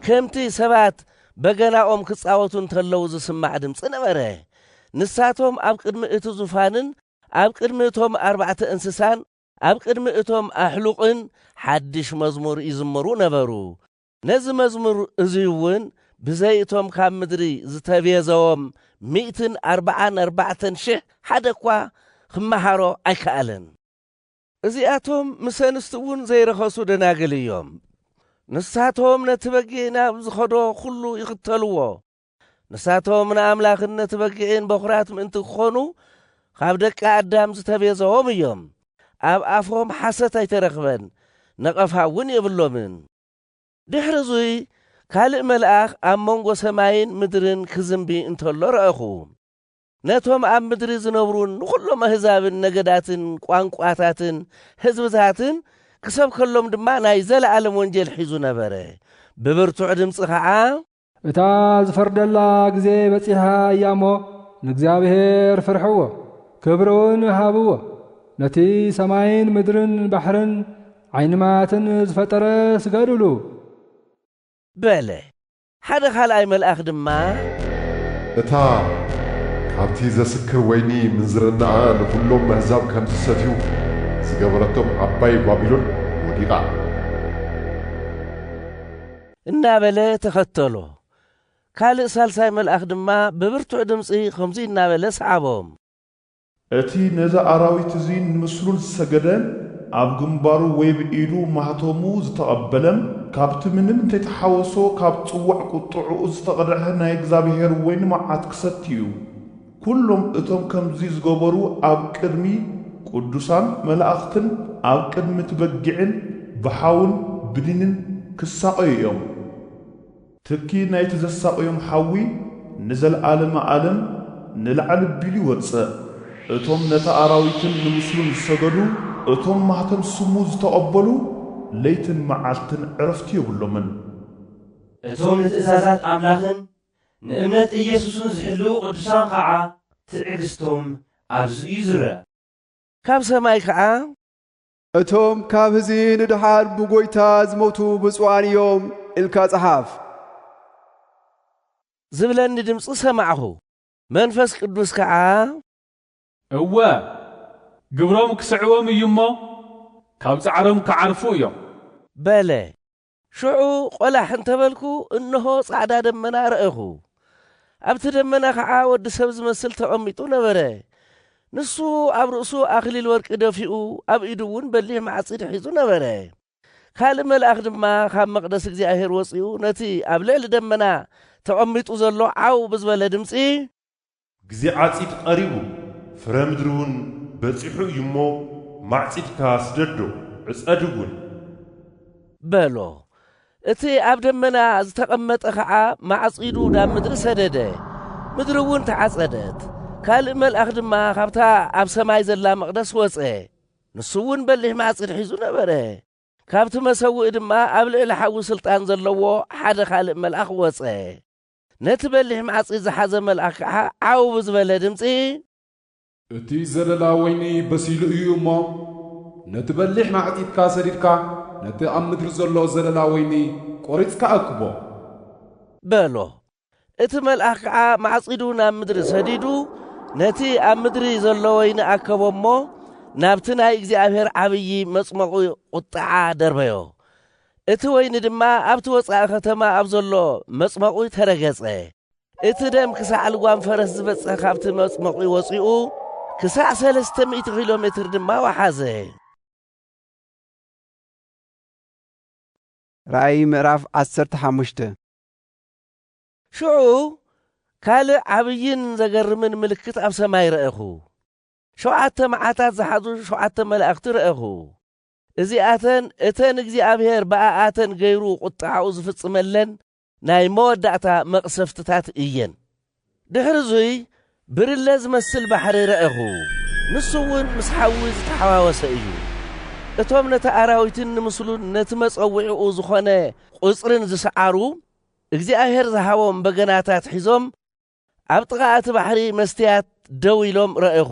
ከምቲ ሰባት በገናኦም ክጻወቱ እንተለዉ ዝስማዕ ድምጺ ነበረ። ንሳቶም ኣብ ቅድሚ እቲ ዙፋንን ኣብ ቅድሚ እቶም ኣርባዕተ እንስሳን ኣብ ቅድሚ እቶም ኣሕሉቕን ሓድሽ መዝሙር ይዝምሩ ነበሩ። ነዚ መዝሙር እዚ እውን ብዘይ እቶም ካብ ምድሪ ዝተቤዘዎም ሚእትን ኣርባዓን ኣርባዕተን ሽሕ ሓደ እኳ ኽመሃሮ ኣይከኣለን። እዚኣቶም ምስ ኣንስቲ እውን ዘይረኸሱ ደናግል እዮም። ንሳቶም ነቲ በጊዕ ናብ ዝኸዶ ዅሉ ይኽተልዎ። ንሳቶም ንኣምላኽን ነቲ በጊዕን በዅራት ምእንቲ ክዀኑ ኻብ ደቂ ኣዳም ዝተቤዘዎም እዮም። ኣብ ኣፎም ሓሰት ኣይተረኽበን፣ ነቐፋ እውን የብሎምን። ድሕሪ እዙይ ካልእ መልኣኽ ኣብ መንጎ ሰማይን ምድርን ክዝምቢ እንተሎ ረኣኹ። ነቶም ኣብ ምድሪ ዝነብሩን ንዅሎም ኣህዛብን ነገዳትን ቋንቋታትን ህዝብታትን ክሰብከሎም ድማ ናይ ዘለኣለም ወንጌል ሒዙ ነበረ፣ ብብርቱዕ ድምጺ ኸዓ። እታ ዝፈርደላ ግዜ በጺሓ እያ እሞ፣ ንእግዚኣብሄር ፍርሕዎ፣ ክብሪውን ሃብዎ፣ ነቲ ሰማይን ምድርን ባሕርን ዓይኒ ማያትን ዝፈጠረ ስገዱሉ። በለ። ሓደ ኻልኣይ መልኣኽ ድማ። እታ ካብቲ ዘስክር ወይኒ ምንዝርናኣ ንዅሎም ኣህዛብ ከም ዚሰትዩ ዝገበረቶም ዓባይ ባቢሎን ወዲቓ። እናበለ ተኸተሎ። ካልእ ሳልሳይ መልኣኽ ድማ ብብርቱዕ ድምጺ ኸምዙይ እናበለ ሰዓቦም። እቲ ነዚ ኣራዊት እዚ ንምስሉን ዝሰገደ፣ ኣብ ግንባሩ ወይ ብ ኢዱ ማህተሙ ዝተቐበለ፣ ካብቲ ምንም እንተይተሓወሶ ካብ ጽዋዕ ቁጥዕኡ ዝተቐድሐ ናይ እግዚኣብሔር ወይኒ መዓት ክሰቲ እዩ። ኩሎም እቶም ከምዚ ዝገበሩ ኣብ ቅድሚ ቅዱሳን መላእኽትን ኣብ ቅድሚ እቲ በጊዕን ብሓውን ብኒንን ክሳቐዩ እዮም። ትኪ ናይቲ ዘሳቕዮም ሓዊ ንዘልኣለመ ኣለም ንላዕሊ ኣቢሉ ይወጽእ። እቶም ነቲ ኣራዊትን ንምስሉን ዝሰገዱ፣ እቶም ማኅተም ስሙ ዝተቐበሉ፣ ለይትን መዓልትን ዕረፍቲ የብሎምን። እቶም ንትእዛዛት ኣምላኽን ንእምነት ኢየሱስን ዝሕልዉ ቅዱሳን ኸዓ ትዕግሥቶም ኣብዚ'ዩ ዝርኣ። ካብ ሰማይ ከኣ እቶም ካብ ህዚ ንድሓር ብጎይታ ዝሞቱ ብፁዓን እዮም ኢልካ ጽሓፍ። ዝብለኒ ድምጺ ሰማዕኹ፣ መንፈስ ቅዱስ ከኣ። እወ፣ ግብሮም ክስዕቦም እዩ እሞ፣ ካብ ጻዕሮም ክዓርፉ እዮም። በለ። ሽዑ ቈላሕ እንተ በልኩ፣ እንሆ፣ ጻዕዳ ደመና ረኣኹ። ኣብቲ ደመና ኸዓ ወዲ ሰብ ዚመስል ተቐሚጡ ነበረ። ንሱ ኣብ ርእሱ ኣኽሊል ወርቂ ደፊኡ፣ ኣብ ኢዱውን በሊሕ ማዕጺድ ሒዙ ነበረ። ካልእ መልኣኽ ድማ ካብ መቕደስ እግዚኣብሄር ወጺኡ ነቲ ኣብ ልዕሊ ደመና ተቐሚጡ ዘሎ ዓው ብዝበለ ድምጺ፣ ግዜ ዓጺድ ቐሪቡ ፍረ ምድሪውን በጺሑ እዩሞ ማዕጺድካ ስደዶ፣ ዕጸድውን። በሎ። እቲ ኣብ ደመና ዝተቐመጠ ኸዓ ማዕጺዱ ናብ ምድሪ ሰደደ፣ ምድሪውን ተዓጸደት። ካልእ መልኣኽ ድማ ካብታ ኣብ ሰማይ ዘላ መቕደስ ወጸ፣ ንሱውን በሊሕ ማዕጺድ ሒዙ ነበረ። ካብቲ መሰውኢ ድማ ኣብ ልዕሊ ሓዊ ስልጣን ዘለዎ ሓደ ኻልእ መልኣኽ ወጸ። ነቲ በሊሕ ማዕጺድ ዝሓዘ መልኣኽ ከኣ ዓው ብዝበለ ድምጺ። እቲ ዘለላ ወይኒ በሲሉ እዩ እሞ፣ ነቲ በሊሕ ማዕጺድካ ሰዲድካ ነቲ ኣብ ምድሪ ዘሎ ዘለላ ወይኒ ቈሪጽካ ኣክቦ። በሎ። እቲ መልኣኽ ከኣ ማዕጺዱ ናብ ምድሪ ሰዲዱ ነቲ ኣብ ምድሪ ዘሎ ወይኒ ኣከቦ እሞ፣ ናብቲ ናይ እግዚኣብሔር ዓብዪ መጽሞቝ ቝጥዓ ደርበዮ። እቲ ወይኒ ድማ ኣብቲ ወጻኢ ከተማ ኣብ ዘሎ መጽመቝ ተረገጸ። እቲ ደም ክሳዕ ልጓም ፈረስ ዝበጽሕ ካብቲ መጽመቝ ወጺኡ፣ ክሳዕ ሰለስተ ሚእቲ ኪሎ ሜትር ድማ ወሓዘ። ራእይ ምዕራፍ ዓሰርተ ሓሙሽተ ሽዑ ካልእ ዓብይን ዘገርምን ምልክት ኣብ ሰማይ ረኣኹ። ሸውዓተ መዓታት ዝሓዙ ሸውዓተ መላእኽቲ ረኣኹ። እዚኣተን እተን እግዚኣብሄር ብኣኣተን ገይሩ ቝጥዓኡ ዝፍጽመለን ናይ መወዳእታ መቕሰፍትታት እየን። ድሕሪ እዙይ ብርለ ዝመስል ባሕሪ ረኣኹ፣ ንሱውን ምስ ሓዊ ዝተሓዋወሰ እዩ። እቶም ነቲ ኣራዊትን ንምስሉን ነቲ መጸውዒኡ ዝኾነ ቝጽርን ዝሰዓሩ፣ እግዚኣብሄር ዝሃቦም በገናታት ሒዞም ኣብ ጥቓ እቲ ባሕሪ መስትያት ደው ኢሎም ረኣኹ።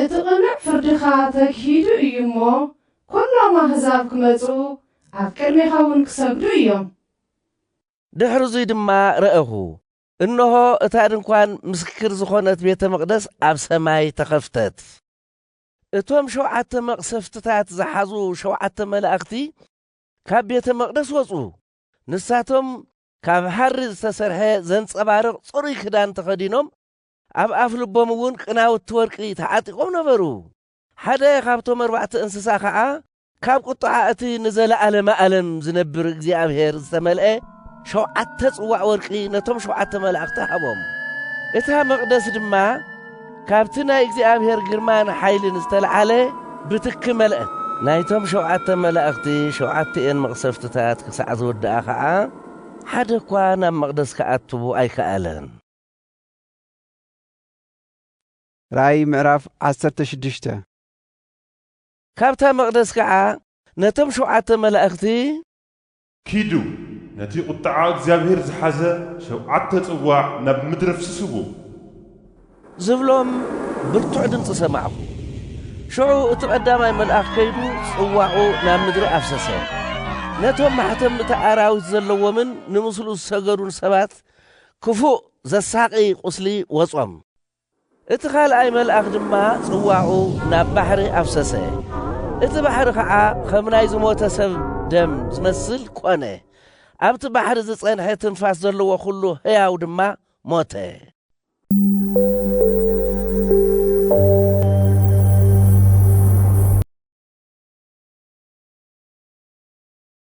እቲ ቅኑዕ ፍርድኻ ተግሂዱ እዩ እሞ፣ ኵሎም ኣህዛብ ክመጹ፣ ኣብ ቅድሜኻውን ክሰግዱ እዮም። ድሕርዙይ ድማ ረኣኹ፣ እንሆ፣ እታ ድንኳን ምስክር ዝኾነት ቤተ መቕደስ ኣብ ሰማይ ተኸፍተት። እቶም ሸውዓተ መቕሰፍትታት ዝሓዙ ሸውዓተ መላእኽቲ ካብ ቤተ መቕደስ ወጹ፣ ንሳቶም ካብ ሃሪ ዝተሰርሐ ዘንጸባርቕ ጽሩይ ክዳን ተኸዲኖም ኣብ ኣፍ ልቦም እውን ቅናውቲ ወርቂ ተዓጢቖም ነበሩ። ሓደ ኻብቶም ኣርባዕተ እንስሳ ኸኣ ካብ ቝጥዓ እቲ ንዘለኣለመ ኣለም ዚነብር እግዚኣብሄር ዝተመልአ ሸውዓተ ጽዋእ ወርቂ ነቶም ሸውዓተ መላእኽቲ ሃቦም። እታ መቕደስ ድማ ካብቲ ናይ እግዚኣብሄር ግርማን ሓይልን ዝተለዓለ ብትኪ መልአት። ናይቶም ሸውዓተ መላእኽቲ ሸውዓቲኤን መቕሰፍትታት ክሳዕ ዝውድኣ ኸኣ፣ ሓደ እኳ ናብ መቕደስ ኪኣቱ ኣይከኣለን። ራእይ ምዕራፍ ዓሰርተ ሽዱሽተ ካብታ መቕደስ ከዓ ነቶም ሸውዓተ መላእኽቲ ኪዱ ነቲ ቁጥዓ እግዚኣብሄር ዝሓዘ ሸውዓተ ጽዋዕ ናብ ምድሪ ኣፍስስዎ። ዝብሎም ብርቱዕ ድምጺ ሰማዕኩ። ሽዑ እቲ ቀዳማይ መልኣኽ ከይዱ ጽዋዑ ናብ ምድሪ ኣፍሰሰ። ነቶም ማሕተም እቲ ኣራዊት ዘለዎምን ንምስሉ ዝሰገዱን ሰባት ክፉእ ዘሳቒ ቍስሊ ወጾም። እቲ ኻልኣይ መልኣኽ ድማ ጽዋኡ ናብ ባሕሪ ኣፍሰሰ፣ እቲ ባሕሪ ኸኣ ኸም ናይ ዝሞተ ሰብ ደም ዚመስል ኰነ፣ ኣብቲ ባሕሪ ዝጸንሐ ትንፋስ ዘለዎ ዅሉ ህያው ድማ ሞተ።